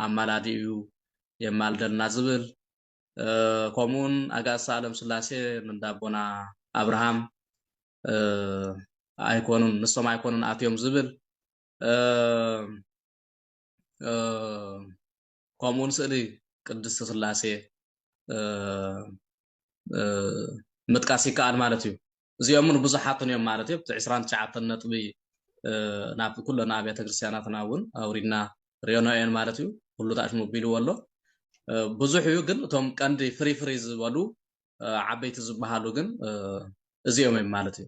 ኣማላዲ እዩ የማልደልና ዝብል ከምኡ ውን ኣጋእዝተ ኣለም ስላሴ ንእንዳ ኣቦና ኣብርሃም ኣይኮኑን ንሶም ኣይኮኑን ኣትዮም ዝብል ከምኡ ውን ስእሊ ቅድስቲ ስላሴ ምጥቃስ ይከኣል ማለት እዩ እዚኦም ን ብዙሓትን እዮም ማለት እዮ እቲ 29 ነጥቢ ናብ ኩለና ኣብያተ ክርስትያናትና እውን ኣውሪድና ሪዮኖ እዮን ማለት እዩ ኩሉ ታሽሙቢልዎ ኣሎ ብዙሕ እዩ ግን እቶም ቀንዲ ፍሪፍሪ ዝበሉ ዓበይቲ ዝበሃሉ ግን እዚኦም እዮም ማለት እዩ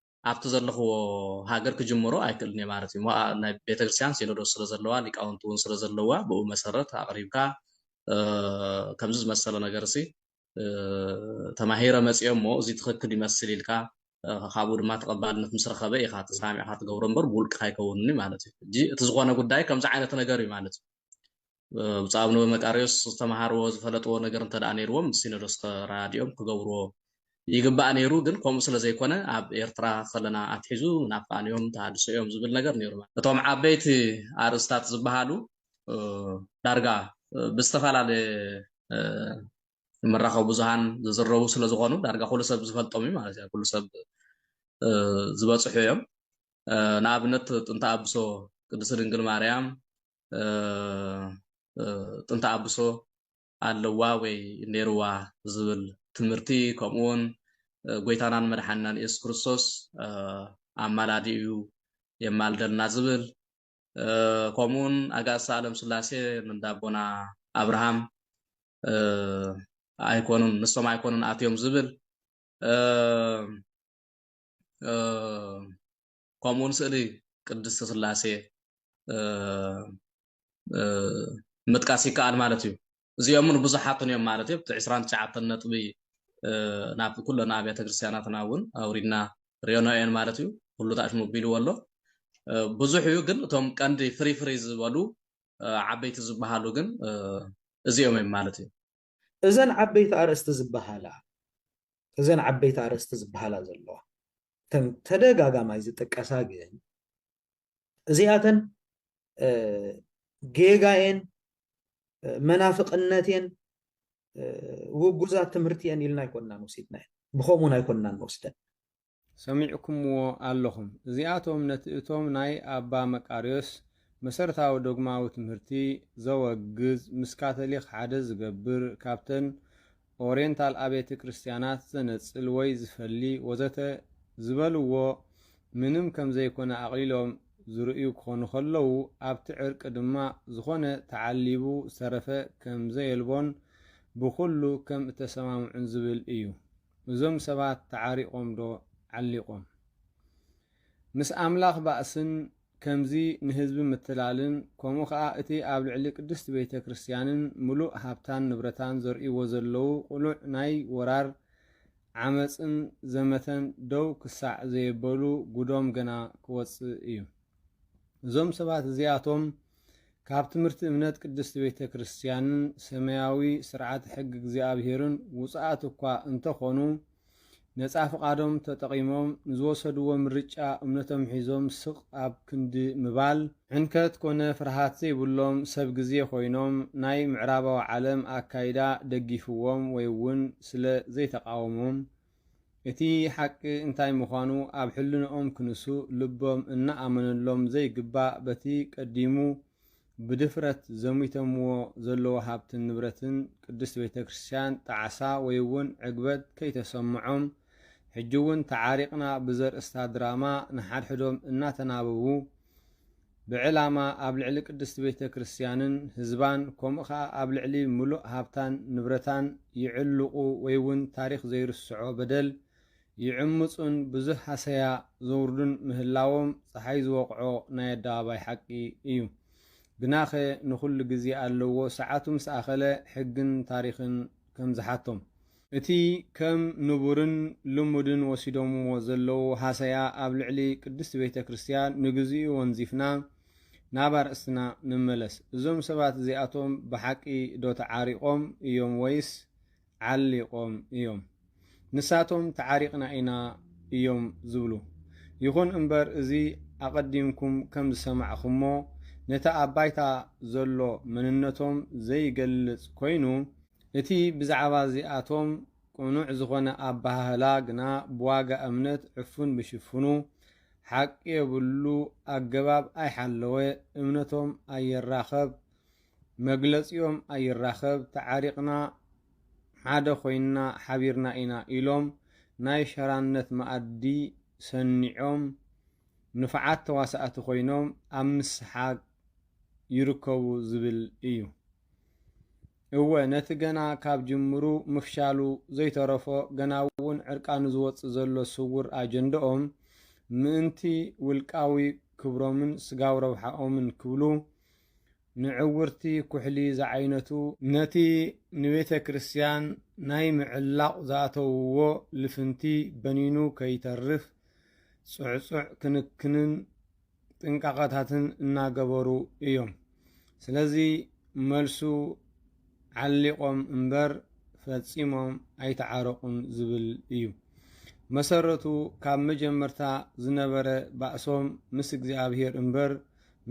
ኣብቲ ዘለኹዎ ሃገር ክጅምሮ ኣይክእልን እየ ማለት እዩ። ሞኣ ናይ ቤተክርስትያን ሲኖዶስ ስለዘለዋ ሊቃውንቲ እውን ስለዘለውዋ ብኡ መሰረት ኣቕሪብካ ከምዚ ዝመሰለ ነገርሲ ተማሂረ መጺኦ እሞ እዚ ትኽክል ይመስል ኢልካ ካብኡ ድማ ተቐባልነት ምስ ረኸበ ኢኻ ተሰማሚዕካ ትገብሮ እምበር ብውልቅኻ ኣይከውንን እዩ ማለት እዩ። ሕጂ እቲ ዝኾነ ጉዳይ ከምዚ ዓይነት ነገር እዩ ማለት እዩ። ብፁዕ ኣቡነ ወመቃርዮስ ዝተመሃርዎ ዝፈለጥዎ ነገር እንተ ነይርዎም ምስ ሲኖዶስ ተረዳዲኦም ክገብርዎ ይግባእ ነይሩ ግን ከምኡ ስለ ዘይኮነ ኣብ ኤርትራ ከለና ኣትሒዙ ምናፍቃን እዮም ተሃድሶ እዮም ዝብል ነገር ነይሩ እቶም ዓበይቲ ኣርእስታት ዝበሃሉ ዳርጋ ብዝተፈላለየ መራኸቢ ብዙሃን ዝዝረቡ ስለ ዝኾኑ ዳርጋ ኩሉ ሰብ ዝፈልጦም እዩ ማለት እዩ ኩሉ ሰብ ዝበፅሑ እዮም ንኣብነት ጥንተ ኣብሶ ቅድስት ድንግል ማርያም ጥንተ ኣብሶ ኣለዋ ወይ ኔርዋ ዝብል ትምህርቲ ከምኡ ውን ጎይታናን መድሓኒናን የሱስ ክርስቶስ ኣማላዲ እዩ የማልደልና ዝብል ከምኡ ውን ኣጋእዝተ ኣለም ስላሴ እንዳ ኣቦና ኣብርሃም ኣይኮኑን ንሶም ኣይኮኑን ኣትዮም ዝብል ከምኡውን ስእሊ ቅድስት ስላሴ ምጥቃስ ይከኣል ማለት እዩ እዚኦምን ብዙሓትን እዮም ማለት እዩ ዕስራን ትሽዓተን ነጥቢ ናብ ኩለን ኣብያተ ክርስትያናትና እውን ኣውሪድና ሪዮኖ እየን ማለት እዩ ኩሉ ታሽ ቢልዎ ኣሎ ብዙሕ እዩ ግን እቶም ቀንዲ ፍሪ ፍሪ ዝበሉ ዓበይቲ ዝበሃሉ ግን እዚኦም እዮም ማለት እዩ እዘን ዓበይቲ ኣርእስቲ ዝበሃላ እዘን ዓበይቲ ኣርእስቲ ዝበሃላ ዘለዋ እተን ተደጋጋማይ ዝጥቀሳ ግን እዚኣተን ጌጋየን መናፍቕነትየን ውጉዛት ትምህርቲ እየን ኢልና ኣይኮናን ወሲድናየን ብከምኡን ኣይኮናን ንወስደን ሰሚዕኩምዎ ኣለኹም። እዚኣቶም ነቲ እቶም ናይ ኣባ መቃርዮስ መሰረታዊ ዶግማዊ ትምህርቲ ዘወግዝ፣ ምስ ካቶሊክ ሓደ ዝገብር፣ ካብተን ኦሬንታል ኣቤተ ክርስቲያናት ዘነጽል ወይ ዝፈሊ ወዘተ ዝበልዎ ምንም ከም ዘይኮነ ኣቕሊሎም ዝርእዩ ክኾኑ ከለዉ፣ ኣብቲ ዕርቂ ድማ ዝኾነ ተዓሊቡ ዝተረፈ ከም ዘየልቦን ብኹሉ ከም እተሰማምዑን ዝብል እዩ። እዞም ሰባት ተዓሪቖም ዶ ዓሊቖም? ምስ ኣምላኽ ባእስን ከምዚ ንህዝቢ ምትላልን ከምኡ ከኣ እቲ ኣብ ልዕሊ ቅድስት ቤተ ክርስቲያንን ምሉእ ሃብታን ንብረታን ዘርእይዎ ዘለዉ ቅሉዕ ናይ ወራር ዓመጽን ዘመተን ደው ክሳዕ ዘየበሉ ጉዶም ገና ክወጽእ እዩ። እዞም ሰባት እዚኣቶም ካብ ትምህርቲ እምነት ቅድስት ቤተ ክርስቲያንን ሰማያዊ ስርዓተ ሕጊ እግዚኣብሔርን ውፅኣት እኳ እንተኾኑ ነፃ ፍቓዶም ተጠቒሞም ንዝወሰድዎ ምርጫ እምነቶም ሒዞም ስቕ ኣብ ክንዲ ምባል ሕንከት ኮነ ፍርሃት ዘይብሎም ሰብ ግዜ ኮይኖም ናይ ምዕራባዊ ዓለም ኣካይዳ ደጊፍዎም ወይ እውን ስለ ዘይተቓወሞም እቲ ሓቂ እንታይ ምዃኑ ኣብ ሕልንኦም ክንሱ ልቦም እናኣመነሎም ዘይግባእ በቲ ቀዲሙ ብድፍረት ዘሚተምዎ ዘለዎ ሃብትን ንብረትን ቅድስት ቤተ ክርስቲያን ጣዕሳ ወይውን ዕግበት ከይተሰምዖም ሕጂውን ተዓሪቕና ብዘርእስታ ድራማ ንሓድሕዶም እናተናበቡ ብዕላማ ኣብ ልዕሊ ቅድስት ቤተ ክርስቲያንን ህዝባን ከምኡ ከኣ ኣብ ልዕሊ ምሉእ ሃብታን ንብረታን ይዕልቁ ወይ ውን ታሪኽ ዘይርስዖ በደል ይዕምጹን ብዙህ ሃሰያ ዘውርዱን ምህላዎም ጸሓይ ዝወቕዖ ናይ ኣደባባይ ሓቂ እዩ። ግናኸ ንኹሉ ግዜ ኣለዎ ሰዓቱ ምስ ኣኸለ ሕግን ታሪኽን ከም ዝሓቶም። እቲ ከም ንቡርን ልሙድን ወሲዶምዎ ዘለዉ ሃሰያ ኣብ ልዕሊ ቅድስት ቤተ ክርስቲያን ንግዚኡ ወንዚፍና ናብ ኣርእስትና ንመለስ። እዞም ሰባት እዚኣቶም ብሓቂ ዶ ተዓሪቖም እዮም ወይስ ዓሊቖም እዮም? ንሳቶም ተዓሪቕና ኢና እዮም ዝብሉ። ይኹን እምበር እዚ ኣቐዲምኩም ከም ዝሰማዕኹምዎ ነቲ ኣብ ባይታ ዘሎ መንነቶም ዘይገልጽ ኮይኑ፣ እቲ ብዛዕባ እዚኣቶም ቅኑዕ ዝኾነ ኣበሃህላ ግና ብዋጋ እምነት ዕፉን ብሽፉኑ ሓቂ የብሉ ኣገባብ ኣይሓለወ እምነቶም ኣይራኸብ መግለጺኦም ኣይራኸብ ተዓሪቕና ሓደ ኮይንና ሓቢርና ኢና ኢሎም ናይ ሸራነት መኣዲ ሰኒዖም ንፉዓት ተዋሳእቲ ኮይኖም ኣብ ምስሓግ ይርከቡ ዝብል እዩ። እወ ነቲ ገና ካብ ጅምሩ ምፍሻሉ ዘይተረፎ ገና'ውን ዕርቃኑ ዝወጽእ ዘሎ ስውር ኣጀንደኦም ምእንቲ ውልቃዊ ክብሮምን ስጋዊ ረብሓኦምን ክብሉ ንዕውርቲ ኩሕሊ ዝዓይነቱ ነቲ ንቤተ ክርስቲያን ናይ ምዕላቕ ዝኣተውዎ ልፍንቲ በኒኑ ከይተርፍ ጽዕጹዕ ክንክንን ጥንቃቐታትን እናገበሩ እዮም። ስለዚ መልሱ ዓሊቖም እምበር ፈጺሞም ኣይተዓረቑን ዝብል እዩ። መሰረቱ ካብ መጀመርታ ዝነበረ ባእሶም ምስ እግዚኣብሔር እምበር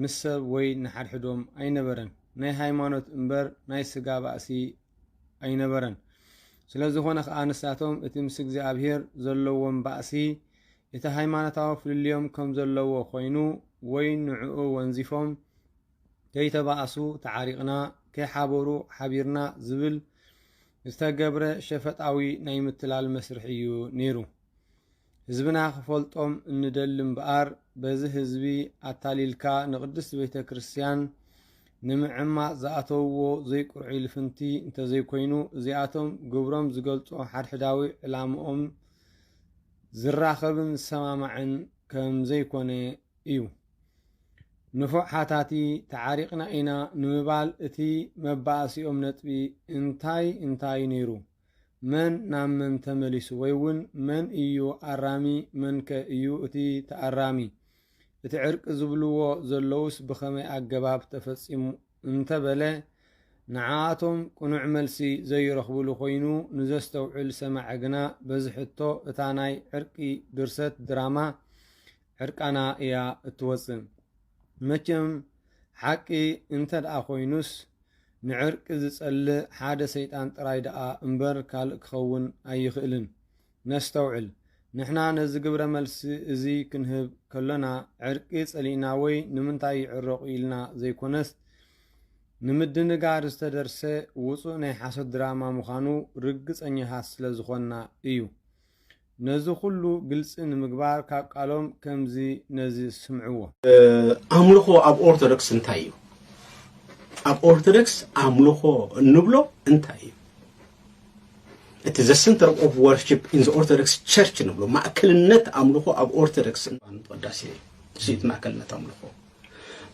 ምስ ሰብ ወይ ንሓድሕዶም ኣይነበረን። ናይ ሃይማኖት እምበር ናይ ስጋ ባእሲ ኣይነበረን። ስለ ዝኾነ ከዓ ንሳቶም እቲ ምስ እግዚኣብሔር ዘለዎም ባእሲ እቲ ሃይማኖታዊ ፍልልዮም ከም ዘለዎ ኮይኑ ወይ ንዕኡ ወንዚፎም ከይተባእሱ ተዓሪቕና ከይሓበሩ ሓቢርና ዝብል ዝተገብረ ሸፈጣዊ ናይ ምትላል መስርሕ እዩ ነይሩ። ህዝብና ክፈልጦም እንደሊ እምበኣር በዚ ህዝቢ ኣታሊልካ ንቕድስት ቤተ ክርስቲያን ንምዕማጽ ዝኣተውዎ ዘይቁርዑይ ልፍንቲ እንተዘይኮይኑ እዚኣቶም ግብሮም ዝገልጾ ሓድሕዳዊ ዕላምኦም ዝራኸብን ዝሰማማዕን ከም ዘይኮነ እዩ። ንፉዕ ሓታቲ፣ ተዓሪቕና ኢና ንምባል እቲ መባኣሲኦም ነጥቢ እንታይ እንታዩ ነይሩ? መን ናብ መን ተመሊሱ? ወይ እውን መን እዩ ኣራሚ መንከ እዩ እቲ ተኣራሚ? እቲ ዕርቂ ዝብልዎ ዘለዉስ ብኸመይ ኣገባብ ተፈፂሙ እንተበለ ንዓኣቶም ቅኑዕ መልሲ ዘይረኽቡሉ ኮይኑ ንዘስተውዕል ሰማዒ ግና በዚ ሕቶ እታ ናይ ዕርቂ ድርሰት ድራማ ዕርቃና እያ እትወጽእ። መቸም ሓቂ እንተድኣ ኮይኑስ ንዕርቂ ዝጸልእ ሓደ ሰይጣን ጥራይ ድኣ እምበር ካልእ ክኸውን ኣይኽእልን። ነስተውዕል፣ ንሕና ነዚ ግብረ መልሲ እዚ ክንህብ ከሎና ዕርቂ ጸሊእና ወይ ንምንታይ ይዕረቑ ኢልና ዘይኮነስ ንምድንጋር ዝተደርሰ ውጹእ ናይ ሓሶት ድራማ ምዃኑ ርግጸኛታት ስለ ዝኾንና እዩ። ነዚ ኩሉ ግልጺ ንምግባር ካብ ቃሎም ከምዚ ነዚ ስምዕዎ። ኣምልኾ ኣብ ኦርቶዶክስ እንታይ እዩ? ኣብ ኦርቶዶክስ ኣምልኾ እንብሎ እንታይ እዩ? እቲ ዘ ሰንተር ኦፍ ወርሺፕ ኢን ዘ ኦርቶዶክስ ቸርች ንብሎ ማእከልነት ኣምልኾ ኣብ ኦርቶዶክስ ወዳሴ እዩ ስኢት ማእከልነት ኣምልኾ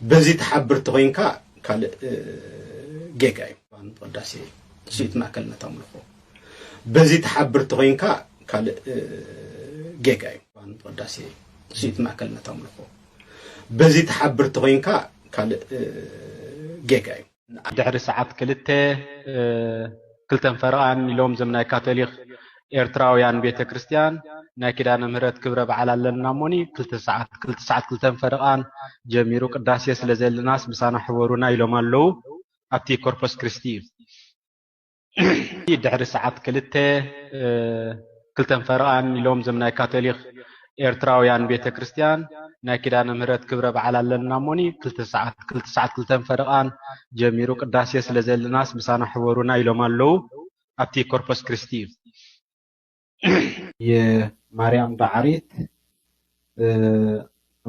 በዚ ተሓብር ተኮይንካ ካልእ ጌጋ እዩ ወዳሴ እዩ ስኢት ማእከልነት ኣምልኾ በዚ ተሓብር ተኮይንካ ካልእ ጌጋ እዩ ወዳሴ እዩ ስኢት ማእከልነት ኣምልኾ በዚ ተሓብር ተኮይንካ ካልእ ጌጋ እዩ ድሕሪ ሰዓት ክልተ ክልተን ፈረቓን ኢሎም ዘም ናይ ካቶሊኽ ኤርትራውያን ቤተ ክርስቲያን ናይ ኪዳነ ምህረት ክብረ በዓል ኣለና እሞኒ ክልተ ሰዓት ክልተ ሰዓት ክልተን ፈረቓን ጀሚሩ ቅዳሴ ስለ ዘለናስ ምሳና ሕበሩና ኢሎም ኣለዉ ኣብቲ ኮርፖስ ክርስቲ እዩ ድሕሪ ሰዓት ክልተ ክልተን ፈረቓን ኢሎም ዞም ናይ ካቶሊክ ኤርትራውያን ቤተ ክርስትያን ናይ ኪዳነ ምህረት ክብረ በዓል ኣለና እሞኒ ክልተ ሰዓት ክልተ ሰዓት ክልተን ፈረቓን ጀሚሩ ቅዳሴ ስለ ዘለናስ ምሳና ሕበሩና ኢሎም ኣለዉ ኣብቲ ኮርፖስ ክርስቲ እዩ የማርያም ዳዓሪት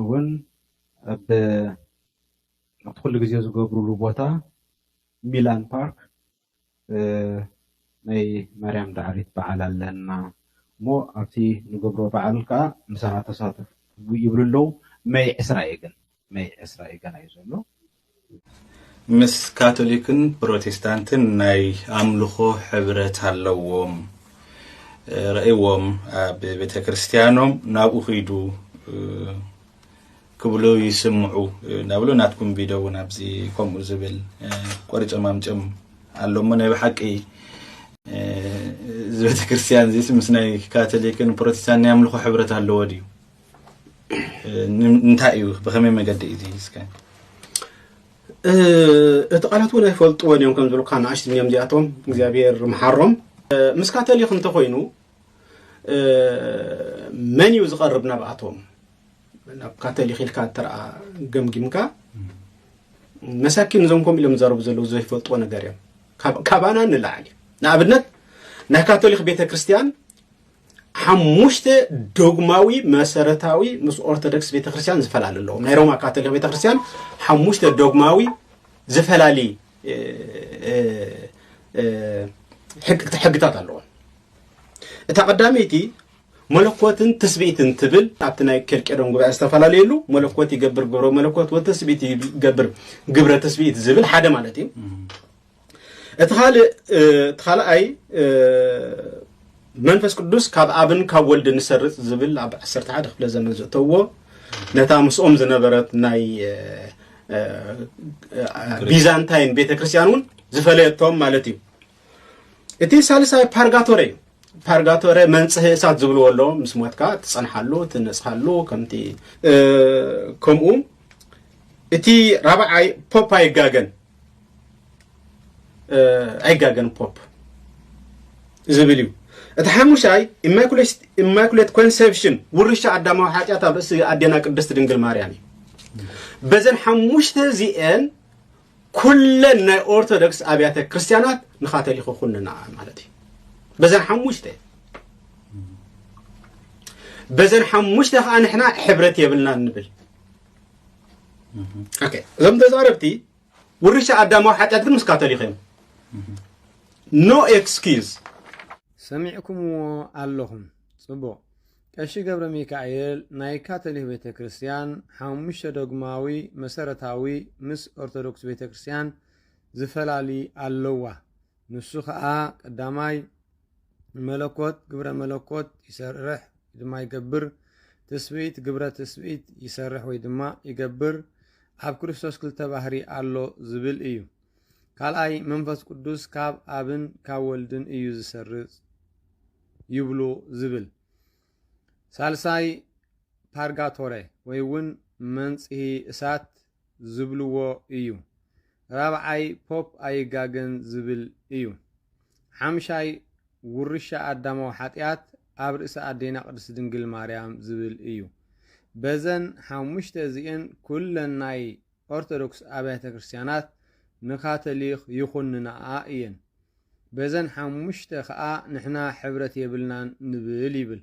እውን ኣብ ኣብቲ ኩሉ ግዜ ዝገብሩሉ ቦታ ሚላን ፓርክ ናይ ማርያም ዳዓሪት በዓል ኣለና እሞ ኣብቲ ንገብሮ በዓል ከዓ ምሳና ተሳተፉ ይብሉ ኣለዉ መይ ዕስራ እዩ ግን መይ ዕስራ እዩ ገና እዩ ዘሎ። ምስ ካቶሊክን ፕሮቴስታንትን ናይ ኣምልኾ ሕብረት ኣለዎም። ረእዎም ኣብ ቤተ ክርስቲያኖም ናብኡ ኺዱ ክብሉ ይስምዑ እናብሉ ናትኩም ቪድዮ እውን ኣብዚ ከምኡ ዝብል ቆሪፆም ኣምፅኦም ኣሎ እሞ ናይ ብሓቂ እዚ ቤተ ክርስቲያን እዚስ ምስ ናይ ካቶሊክን ፕሮቴስታንት ናይ ኣምልኾ ሕብረት ኣለዎ ድዩ እንታይ እዩ ብከመይ መገዲ እዩ እስከ እቲ ቃላት እውን ኣይፈልጥዎን እዮም ከም ዝብሉካ ንኣሽቲ እዮም እዚኣቶም እግዚኣብሄር ምሓሮም ምስካ ተልኽ እንተኮይኑ መን እዩ ዝቐርብ ናብኣቶም ናብ ካተሊክ ኢልካ እተረኣ ገምጊምካ መሳኪን እዞም ከምኡ ኢሎም ዘረቡ ዘለዉ ዘይፈልጥዎ ነገር እዮም ካባና ንላዓል እዩ ንኣብነት ናይ ካቶሊክ ቤተ ክርስትያን ሓሙሽተ ዶግማዊ መሰረታዊ ምስ ኦርቶዶክስ ቤተክርስትያን ዝፈላሊ ኣለዎም ናይ ሮማ ካቶሊክ ቤተክርስትያን ሓሙሽተ ዶግማዊ ዝፈላሊ ሕግታት ኣለዎም እታ ቀዳመይቲ መለኮትን ትስብእትን ትብል ኣብቲ ናይ ኬልቄዶን ጉባኤ ዝተፈላለየሉ መለኮት ይገብር ግብረ መለኮት ወተስብእት ይገብር ግብረ ትስብእት ዝብል ሓደ ማለት እዩ እቲ ካልእ እቲ ካልኣይ መንፈስ ቅዱስ ካብ ኣብን ካብ ወልድን ዝሰርጽ ዝብል ኣብ 11 ክፍለ ዘመን ዘእተዎ ነታ ምስኦም ዝነበረት ናይ ቢዛንታይን ቤተ ክርስቲያን እውን ዝፈለየቶም ማለት እዩ እቲ ሳልሳይ ፓርጋቶሬ እዩ ፓርጋቶሬ መንፅህ እሳት ዝብልዎ ኣሎ ምስ ሞትካ ትፀንሓሉ ትነፅሃሉ ከምቲ ከምኡ እቲ ራብዓይ ፖፕ ኣይጋገን ኣይጋገን ፖፕ ዝብል እዩ እቲ ሓሙሻይ ኢማኩሌት ኮንሰፕሽን ውርሻ ኣዳማዊ ሓጢኣት ኣብ ርእሲ ኣዴና ቅድስቲ ድንግል ማርያም እዩ በዘን ሓሙሽተ እዚአን ኩለን ናይ ኦርቶዶክስ ኣብያተ ክርስቲያናት ንካቶሊክ ኩንና ማለት እዩ በዘን ሓሙሽተ በዘን ሓሙሽተ ከዓ ንሕና ሕብረት የብልና ንብል እዞም ተዛረብቲ ውርሻ ኣዳማዊ ሓጢኣት ግን ምስ ካቶሊክ እዮም ኖ ኤክስኪዝ ሰሚዕኩምዎ ኣለኹም ጽቡቕ ቀሺ ገብረ ሚካኤል ናይ ካቶሊክ ቤተ ክርስቲያን ሓሙሽተ ዶግማዊ መሰረታዊ ምስ ኦርቶዶክስ ቤተ ክርስቲያን ዝፈላሊ ኣለዋ ንሱ ኸኣ ቀዳማይ ንመለኮት ግብረ መለኮት ይሰርሕ ድማ ይገብር፣ ትስብእት ግብረ ትስብእት ይሰርሕ ወይ ድማ ይገብር፣ ኣብ ክርስቶስ ክልተ ባህሪ ኣሎ ዝብል እዩ። ካልኣይ መንፈስ ቅዱስ ካብ ኣብን ካብ ወልድን እዩ ዝሰርጽ ይብሉ ዝብል። ሳልሳይ ፓርጋቶረ ወይ እውን መንጽሂ እሳት ዝብልዎ እዩ። ራብዓይ ፖፕ ኣይጋገን ዝብል እዩ። ሓምሻይ ውርሻ ኣዳማዊ ሓጥያት ኣብ ርእሲ ኣዴና ቅድስት ድንግል ማርያም ዝብል እዩ። በዘን ሓሙሽተ እዚኤን ኩለን ናይ ኦርቶዶክስ ኣብያተ ክርስቲያናት ንካቶሊኽ ይኹንናኣ እየን። በዘን ሓሙሽተ ከኣ ንሕና ሕብረት የብልናን ንብል ይብል።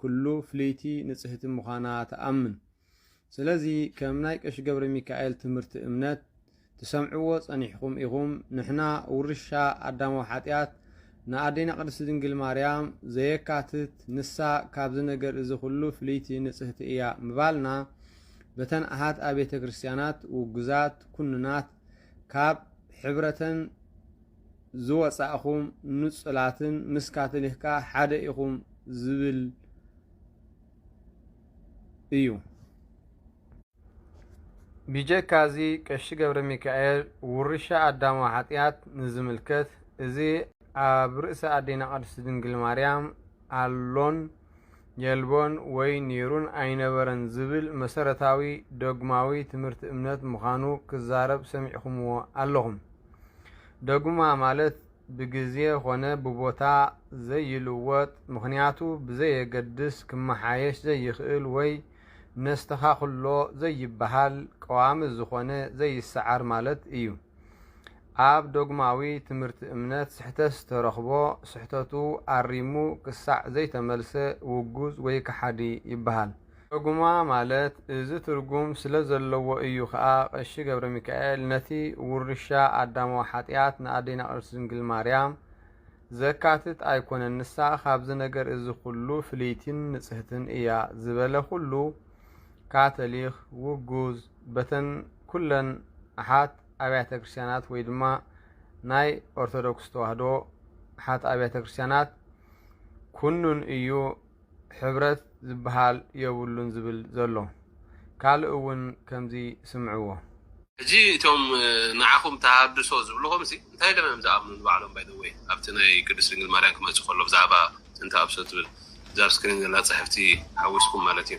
ኩሉ ፍልይቲ ንጽህቲ ምዃና ትኣምን። ስለዚ ከም ናይ ቀሺ ገብረሚካኤል ትምህርቲ እምነት ትሰምዕዎ ጸኒሕኩም ኢኹም ንሕና ውርሻ ኣዳማዊ ሓጢኣት ንኣዴና ቅድስቲ ድንግል ማርያም ዘየካትት ንሳ ካብዚ ነገር እዚ ኩሉ ፍልይቲ ንጽህቲ እያ ምባልና በተን ኣሃት ኣቤተ ክርስቲያናት ውጉዛት ኩንናት ካብ ሕብረተን ዝወጻእኹም ንጹላትን ምስ ካቶሊክካ ሓደ ኢኹም ዝብል እዩ። ቢጀካ እዚ ቀሺ ገብረ ሚካኤል ውርሻ ኣዳማዊ ሓጢኣት ንዝምልከት እዚ ኣብ ርእሲ ኣዴና ቅድስቲ ድንግል ማርያም ኣሎን የልቦን ወይ ኔሩን ኣይነበረን ዝብል መሰረታዊ ዶግማዊ ትምህርቲ እምነት ምዃኑ ክዛረብ ሰሚዕኹምዎ ኣለኹም። ዶግማ ማለት ብግዜ ኾነ ብቦታ ዘይልወጥ ምኽንያቱ ብዘየገድስ ክመሓየሽ ዘይኽእል ወይ ነስተኻኽሎ ዘይበሃል ቀዋሚ ዝኾነ ዘይሰዓር ማለት እዩ። ኣብ ዶግማዊ ትምህርቲ እምነት ስሕተት ተረኽቦ ስሕተቱ ኣሪሙ ክሳዕ ዘይተመልሰ ውጉዝ ወይ ከሓዲ ይበሃል። ዶግማ ማለት እዚ ትርጉም ስለ ዘለዎ እዩ ከኣ ቀሺ ገብረሚካኤል ነቲ ውርሻ ኣዳማዊ ሓጢኣት ንኣዴና ቅድስት ድንግል ማርያም ዘካትት ኣይኮነን ንሳ ካብዚ ነገር እዚ ኩሉ ፍልይቲን ንጽህትን እያ ዝበለ ኩሉ ካቶሊክ ውጉዝ በተን ኩለን ኣሓት ኣብያተ ክርስቲያናት ወይ ድማ ናይ ኦርቶዶክስ ተዋህዶ ኣሓት ኣብያተ ክርስቲያናት ኩኑን እዩ ሕብረት ዝበሃል የብሉን ዝብል ዘሎ ካልእ እውን ከምዚ ስምዕዎ። ሕጂ እቶም ንዓኹም ተሃድሶ ዝብልኹም ሲ እንታይ ኢሎም እዮም ዝኣምኑ ንባዕሎም ባይ ዘ ወይ ኣብቲ ናይ ቅድስት ድንግል ማርያም ክመጽእ ከሎ ብዛዕባ ጥንተ ኣብሶት ዝብል እዛ ኣብ ስክሪን ዘላ ጽሕፍቲ ሓዊስኩም ማለት እዩ።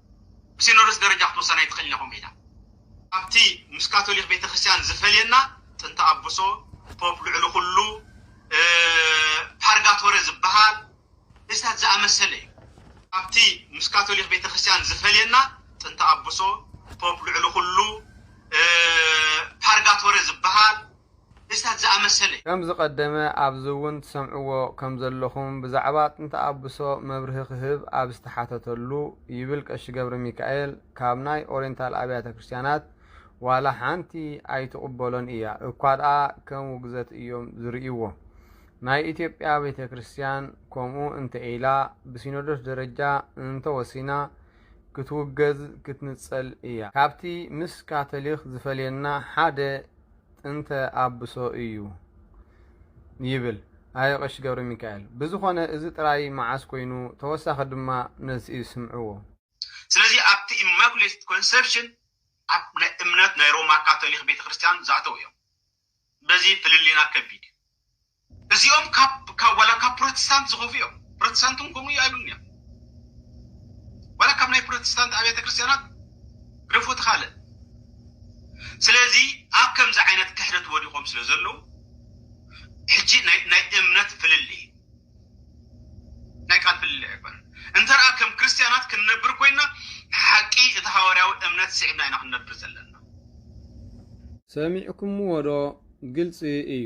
ብሲኖዶስ ደረጃ ክትውሰን ኣይትኽእልን ኢኹም ኢላ። ካብቲ ምስ ካቶሊኽ ቤተ ክርስቲያን ዝፈልየና ጥንተ ኣቡሶ፣ ፖፕ ልዕሊ ኩሉ፣ ፓርጋቶረ ዝበሃል እዚታት ዝኣመሰለ እዩ። ካብቲ ምስ ካቶሊኽ ቤተ ክርስቲያን ዝፈልየና ጥንተ ኣቡሶ፣ ፖፕ ልዕሊ ኩሉ፣ ፓርጋቶረ ዝበሃል ምስታት ዝኣመሰለ። ከም ዝቀደመ ኣብዚ እውን ትሰምዕዎ ከም ዘለኹም ብዛዕባ ጥንቲ ኣብሶ መብርሂ ክህብ ኣብ ዝተሓተተሉ ይብል ቀሺ ገብረሚካኤል ካብ ናይ ኦሬንታል ኣብያተ ክርስቲያናት ዋላ ሓንቲ ኣይትቅበሎን እያ እኳ ድኣ ከም ውግዘት እዮም ዝርእይዎ ናይ ኢትዮጵያ ቤተ ክርስቲያን ከምኡ እንተ ኢላ ብሲኖዶስ ደረጃ እንተ ወሲና ክትውገዝ ክትንጸል እያ ካብቲ ምስ ካቶሊክ ዝፈልየና ሓደ ጥንተ ኣብሶ እዩ ይብል ኣየ ቀሺ ገብረሚካኤል። ብዝኾነ እዚ ጥራይ መዓስ ኮይኑ ተወሳኺ ድማ መልሲ ስምዕዎ። ስለዚ ኣብቲ ኢማኩሌትድ ኮንሰፕሽን ኣብ ናይ እምነት ናይ ሮማ ካቶሊኽ ቤተ ክርስትያን ዝኣተው እዮም። በዚ ፍልልይና ከቢድ እዩ። እዚኦም ካብ ካብ ዋላ ካብ ፕሮቴስታንት ዝኸፉ እዮም። ፕሮቴስታንት እውን ከምኡ እዩ ኣይብሉን እዮም። ዋላ ካብ ናይ ፕሮቴስታንት ኣብያተ ክርስቲያናት ግደፎ ትኻልእ። ስለዚ ኣብ ከምዚ ዓይነት ክሕደት ወዲቖም ስለ ዘለዉ ሕጂ ናይ ናይ እምነት ፍልልይ ናይ ቃል ፍልልይ ኣይኮነን። እንተ ደኣ ከም ክርስቲያናት ክንነብር ኮይንና ሓቂ እቲ ሃዋርያዊ እምነት ስዒብና ኢና ክንነብር ዘለና። ሰሚዕኩምዎዶ ግልጺ እዩ።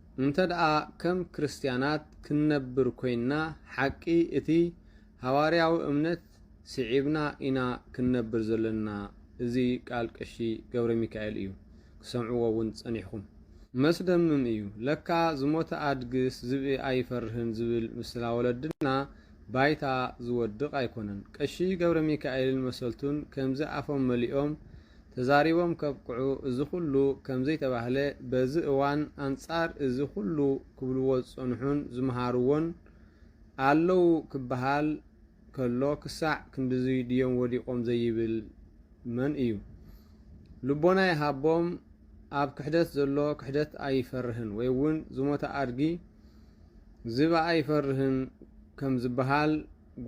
እንተድኣ ከም ክርስትያናት ክንነብር ኰይንና፣ ሓቂ እቲ ሃዋርያዊ እምነት ስዒብና ኢና ክንነብር ዘሎና። እዚ ቃል ቀሺ ገብረሚካኤል እዩ፣ ክትሰምዕዎ እውን ጸኒሕኩም። መስደምም እዩ፣ ለካ ዝሞተ ኣድግስ ዝብኢ ኣይፈርህን ዝብል ምስላ ወለድና ባይታ ዝወድቕ ኣይኮነን። ቀሺ ገብረሚካኤልን መሰልቱን ከምዚ ኣፎም መሊኦም ተዛሪቦም ከብቅዑ እዚ ኩሉ ከምዘይተባህለ በዚ እዋን ኣንጻር እዚ ኩሉ ክብልዎ ዝጸንሑን ዝመሃርዎን ኣለው ክበሃል ከሎ ክሳዕ ክንድዙይ ድዮም ወዲቆም ዘይብል መን እዩ ልቦና ይሃቦም ኣብ ክሕደት ዘሎ ክሕደት ኣይፈርህን ወይውን ዝሞተ ኣድጊ ዝብኢ ኣይፈርህን ከምዝበሃል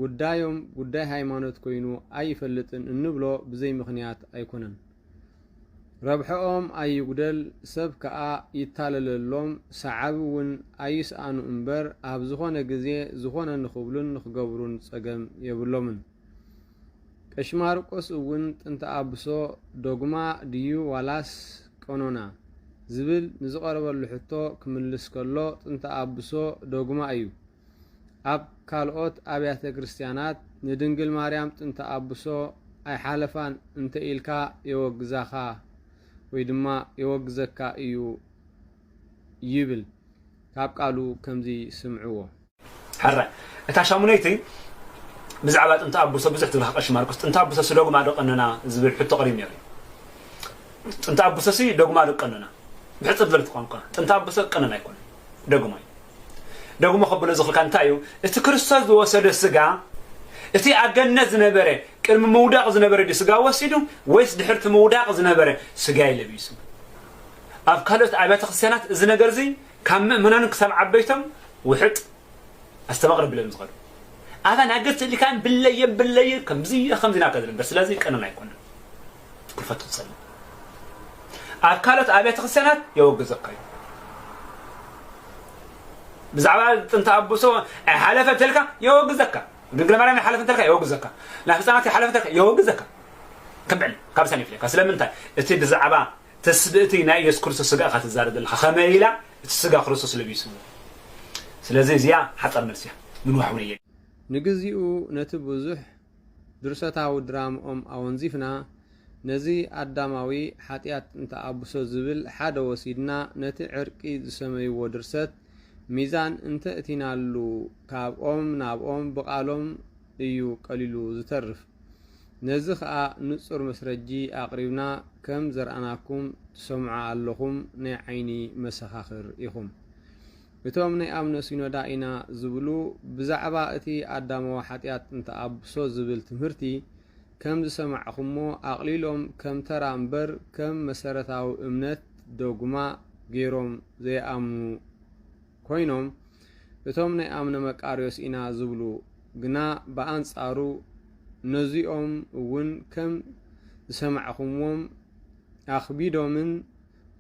ጉዳዮም ጉዳይ ሃይማኖት ኮይኑ ኣይፈልጥን እንብሎ ብዘይ ምኽንያት ኣይኮነን። ረብሐኦም ኣይጉደል ሰብ ከኣ ይታለለሎም ሰዓቢ ውን ኣይስኣኑ እምበር ኣብ ዝኾነ ግዜ ዝኾነ ንኽብሉን ንኽገብሩን ጸገም የብሎምን። ቀሺ ማርቆስ እውን ጥንተ ኣብሶ፣ ዶግማ ድዩ ዋላስ ቀኖና? ዝብል ንዝቐረበሉ ሕቶ ክምልስ ከሎ ጥንተ ኣብሶ ዶግማ እዩ። ኣብ ካልኦት ኣብያተ ክርስትያናት ንድንግል ማርያም ጥንተ ኣቡሶ ኣይሓለፋን እንተ ኢልካ የወግዛኻ ወይ ድማ የወግዘካ እዩ ይብል ካብ ቃሉ ከምዚ ስምዕዎ። ሕራይ እታ ሻሙነይቲ ብዛዕባ ጥንተ ኣቡሶ ብዙሕ ትብልካ ቀሺ ማርቆስ ጥንተ ኣቡሶ ሲ ዶግማ ዶ ቀኖና ዝብል ሕቶ ቀሪብ ነይሩ እዩ ጥንተ ኣቡሶ ሲ ዶግማ ዶ ቀኖና ብሕጽር ዝበለት ቋንቋ ጥንተ ኣቡሶ ቀኖና ኣይኮነን ዶግማ እዩ ደጉሞ ከብሎ ዝኽልካ እንታይ እዩ እቲ ክርስቶስ ዝወሰዶ ስጋ እቲ ኣብ ገነት ዝነበረ ቅድሚ ምውዳቕ ዝነበረ ድዩ ስጋ ወሲዱ ወይስ ድሕርቲ ምውዳቕ ዝነበረ ስጋይ ለቢሱ ኣብ ካልኦት ኣብያተ ክርስቲያናት እዚ ነገር እዚ ካብ ምእመናን ክሳብ ዓበይቶም ውሕጥ ኣስተባቕረ ብሎም ዝኸዱ ኣታ ናገት ልካን ብለየን ብለየን ከምዚ ከምዚ ናከ ዝነበር ስለዚ ቀነል ኣይኮነን ክፈቱ ትጸልእ ኣብ ካልኦት ኣብያተ ክርስቲያናት የወግዘካ እዩ ብዛዕባ ጥንተ ኣቦሶ ሓለፈ እንተልካ የወግዘካ ድንግል ማርያም ይሓለፍ እንተልካ የወግዘካ ናብ ህፃናት ይሓለፍ እንተልካ የወግዘካ ክምዕል ካብ ሰን ይፍለካ ስለምንታይ እቲ ብዛዕባ ተስብእቲ ናይ የሱስ ክርስቶስ ስጋ እካ ትዛረብ ዘለካ ከመይ ኢላ እቲ ስጋ ክርስቶስ ለቢስዎ ስለዚ እዚኣ ሓፃር መልሲ እያ ምንዋሕ እውን እየ ንግዚኡ ነቲ ብዙሕ ድርሰታዊ ድራምኦም ኣወንዚፍና ነዚ ኣዳማዊ ሓጥያት እንተኣብሶ ዝብል ሓደ ወሲድና ነቲ ዕርቂ ዝሰመይዎ ድርሰት ሚዛን እንተእቲናሉ ካብኦም ናብኦም ብቃሎም እዩ ቀሊሉ ዝተርፍ ነዚ ከኣ ንጹር መስረጂ ኣቅሪብና ከም ዘርኣናኩም ትሰምዑ ኣለኹም ናይ ዓይኒ መሰኻኽር ኢኹም እቶም ናይ ኣምነ ሲኖዳ ኢና ዝብሉ ብዛዕባ እቲ ኣዳማዊ ሓጢኣት እንተኣብሶ ዝብል ትምህርቲ ከም ዝሰማዕኹሞ ኣቕሊሎም ከም ተራ እምበር ከም መሰረታዊ እምነት፣ ዶግማ፣ ገይሮም ዘይኣምኑ ኮይኖም እቶም ናይ ኣምነ መቃርዮስ ኢና ዝብሉ ግና ብኣንጻሩ ነዚኦም እውን ከም ዝሰማዕኹምዎም ኣኽቢዶምን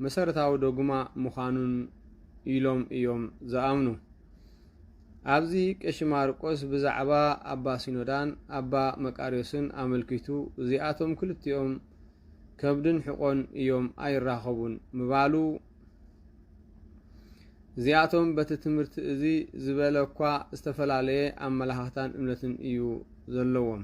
መሰረታዊ ዶግማ ምዃኑን ኢሎም እዮም ዝኣምኑ። ኣብዚ ቀሺ ማርቆስ ብዛዕባ ኣባ ሲኖዳን ኣባ መቃርዮስን ኣመልኪቱ እዚኣቶም ክልቲኦም ከብድን ሕቖን እዮም ኣይራኸቡን ምባሉ እዚኣቶም በቲ ትምህርቲ እዚ ዝበለ እኳ ዝተፈላለየ ኣመላኻኽታን እምነትን እዩ ዘለዎም።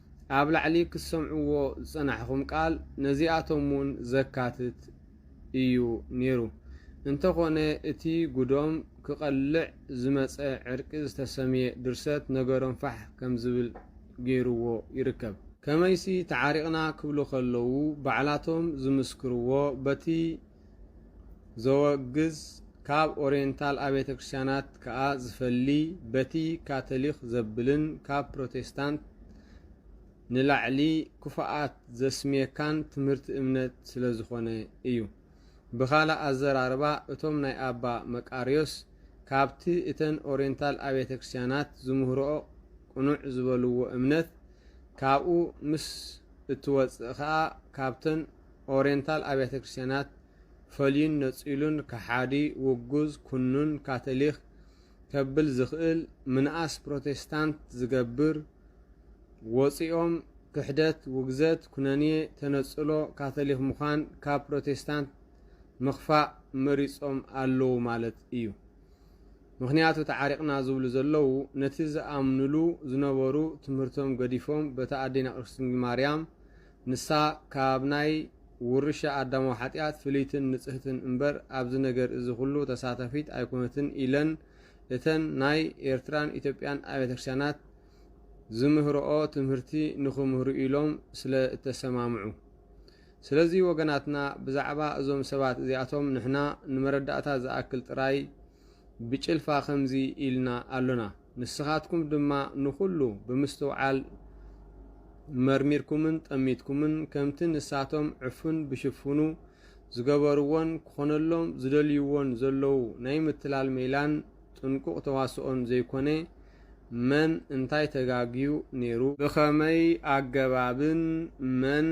ኣብ ላዕሊ ክትሰምዕዎ ዝጸናሕኹም ቃል ነዚኣቶም እውን ዘካትት ኢዩ ነይሩ። እንተዀነ እቲ ጉዶም ክቐልዕ ዝመጸ ዕርቂ ዝተሰምየ ድርሰት ነገሮም ፋሕ ከም ዝብል ገይሩዎ ይርከብ። ከመይሲ ተዓሪቕና ክብሉ ከለዉ ባዕላቶም ዝምስክርዎ በቲ ዘወግዝ ካብ ኦሬንታል ኣብያተ ክርስቲያናት ከኣ ዝፈሊ በቲ ካቶሊኽ ዘብልን ካብ ፕሮቴስታንት ንላዕሊ ክፉኣት ዘስምየካን ትምህርቲ እምነት ስለ ዝኾነ እዩ። ብኻልእ ኣዘራርባ እቶም ናይ ኣባ መቃርዮስ ካብቲ እተን ኦሬንታል ኣብያተ ክርስቲያናት ዝምህርኦ ቅኑዕ ዝበልዎ እምነት ካብኡ ምስ እትወጽእ ከኣ ካብተን ኦሬንታል ኣብያተ ክርስቲያናት ፈልዩን ነጺሉን ከሓዲ፣ ውጉዝ፣ ኩኑን፣ ካተሊኽ ከብል ዝኽእል ምንኣስ ፕሮቴስታንት ዝገብር ወጺኦም ክሕደት፣ ውግዘት፣ ኩነኔ፣ ተነጽሎ፣ ካተሊኽ ምዃን ካብ ፕሮቴስታንት ምኽፋእ መሪጾም ኣለዉ ማለት እዩ። ምኽንያቱ ተዓሪቕና ዝብሉ ዘለዉ ነቲ ዝኣምኑሉ ዝነበሩ ትምህርቶም ገዲፎም በታ ኣዴና ቅድስት ድንግል ማርያም ንሳ ካብ ናይ ውርሻ ኣዳማዊ ሓጢኣት ፍልይትን ንጽህትን እምበር ኣብዚ ነገር እዚ ኩሉ ተሳታፊት ኣይኮነትን ኢለን እተን ናይ ኤርትራን ኢትዮጵያን ኣብያተ ክርስቲያናት ዝምህርኦ ትምህርቲ ንኽምህሩ ኢሎም ስለ እተሰማምዑ ስለዚ ወገናትና ብዛዕባ እዞም ሰባት እዚኣቶም ንሕና ንመረዳእታ ዝኣክል ጥራይ ብጭልፋ ከምዚ ኢልና ኣሎና። ንስኻትኩም ድማ ንኹሉ ብምስትውዓል መርሚርኩምን ጠሚትኩምን ከምቲ ንሳቶም ዕፉን ብሽፉኑ ዝገበርዎን ክኾነሎም ዝደልይዎን ዘለዉ ናይ ምትላል ሜላን ጥንቁቕ ተዋስኦን ዘይኮነ መን እንታይ ተጋግዩ ነይሩ፣ ብኸመይ ኣገባብን መን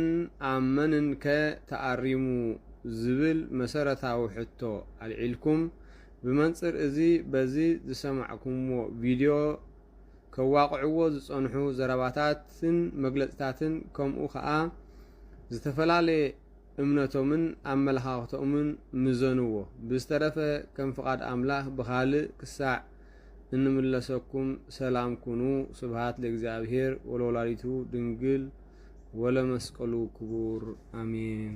ኣብ መንንከ ተኣሪሙ ዝብል መሰረታዊ ሕቶ ኣልዒልኩም ብመንጽር እዚ በዚ ዝሰማዕኩምዎ ቪድዮ ከዋቕዕዎ ዝጸንሑ ዘረባታትን መግለጽታትን ከምኡ ከኣ ዝተፈላለየ እምነቶምን ኣመለኻኽተኡምን ምዘንዎ። ብዝተረፈ ከም ፍቓድ ኣምላኽ ብኻልእ ክሳዕ እንምለሰኩም ሰላም ኩኑ። ስብሃት ለእግዚኣብሔር ወለወላዲቱ ድንግል ወለመስቀሉ ክቡር ኣሜን።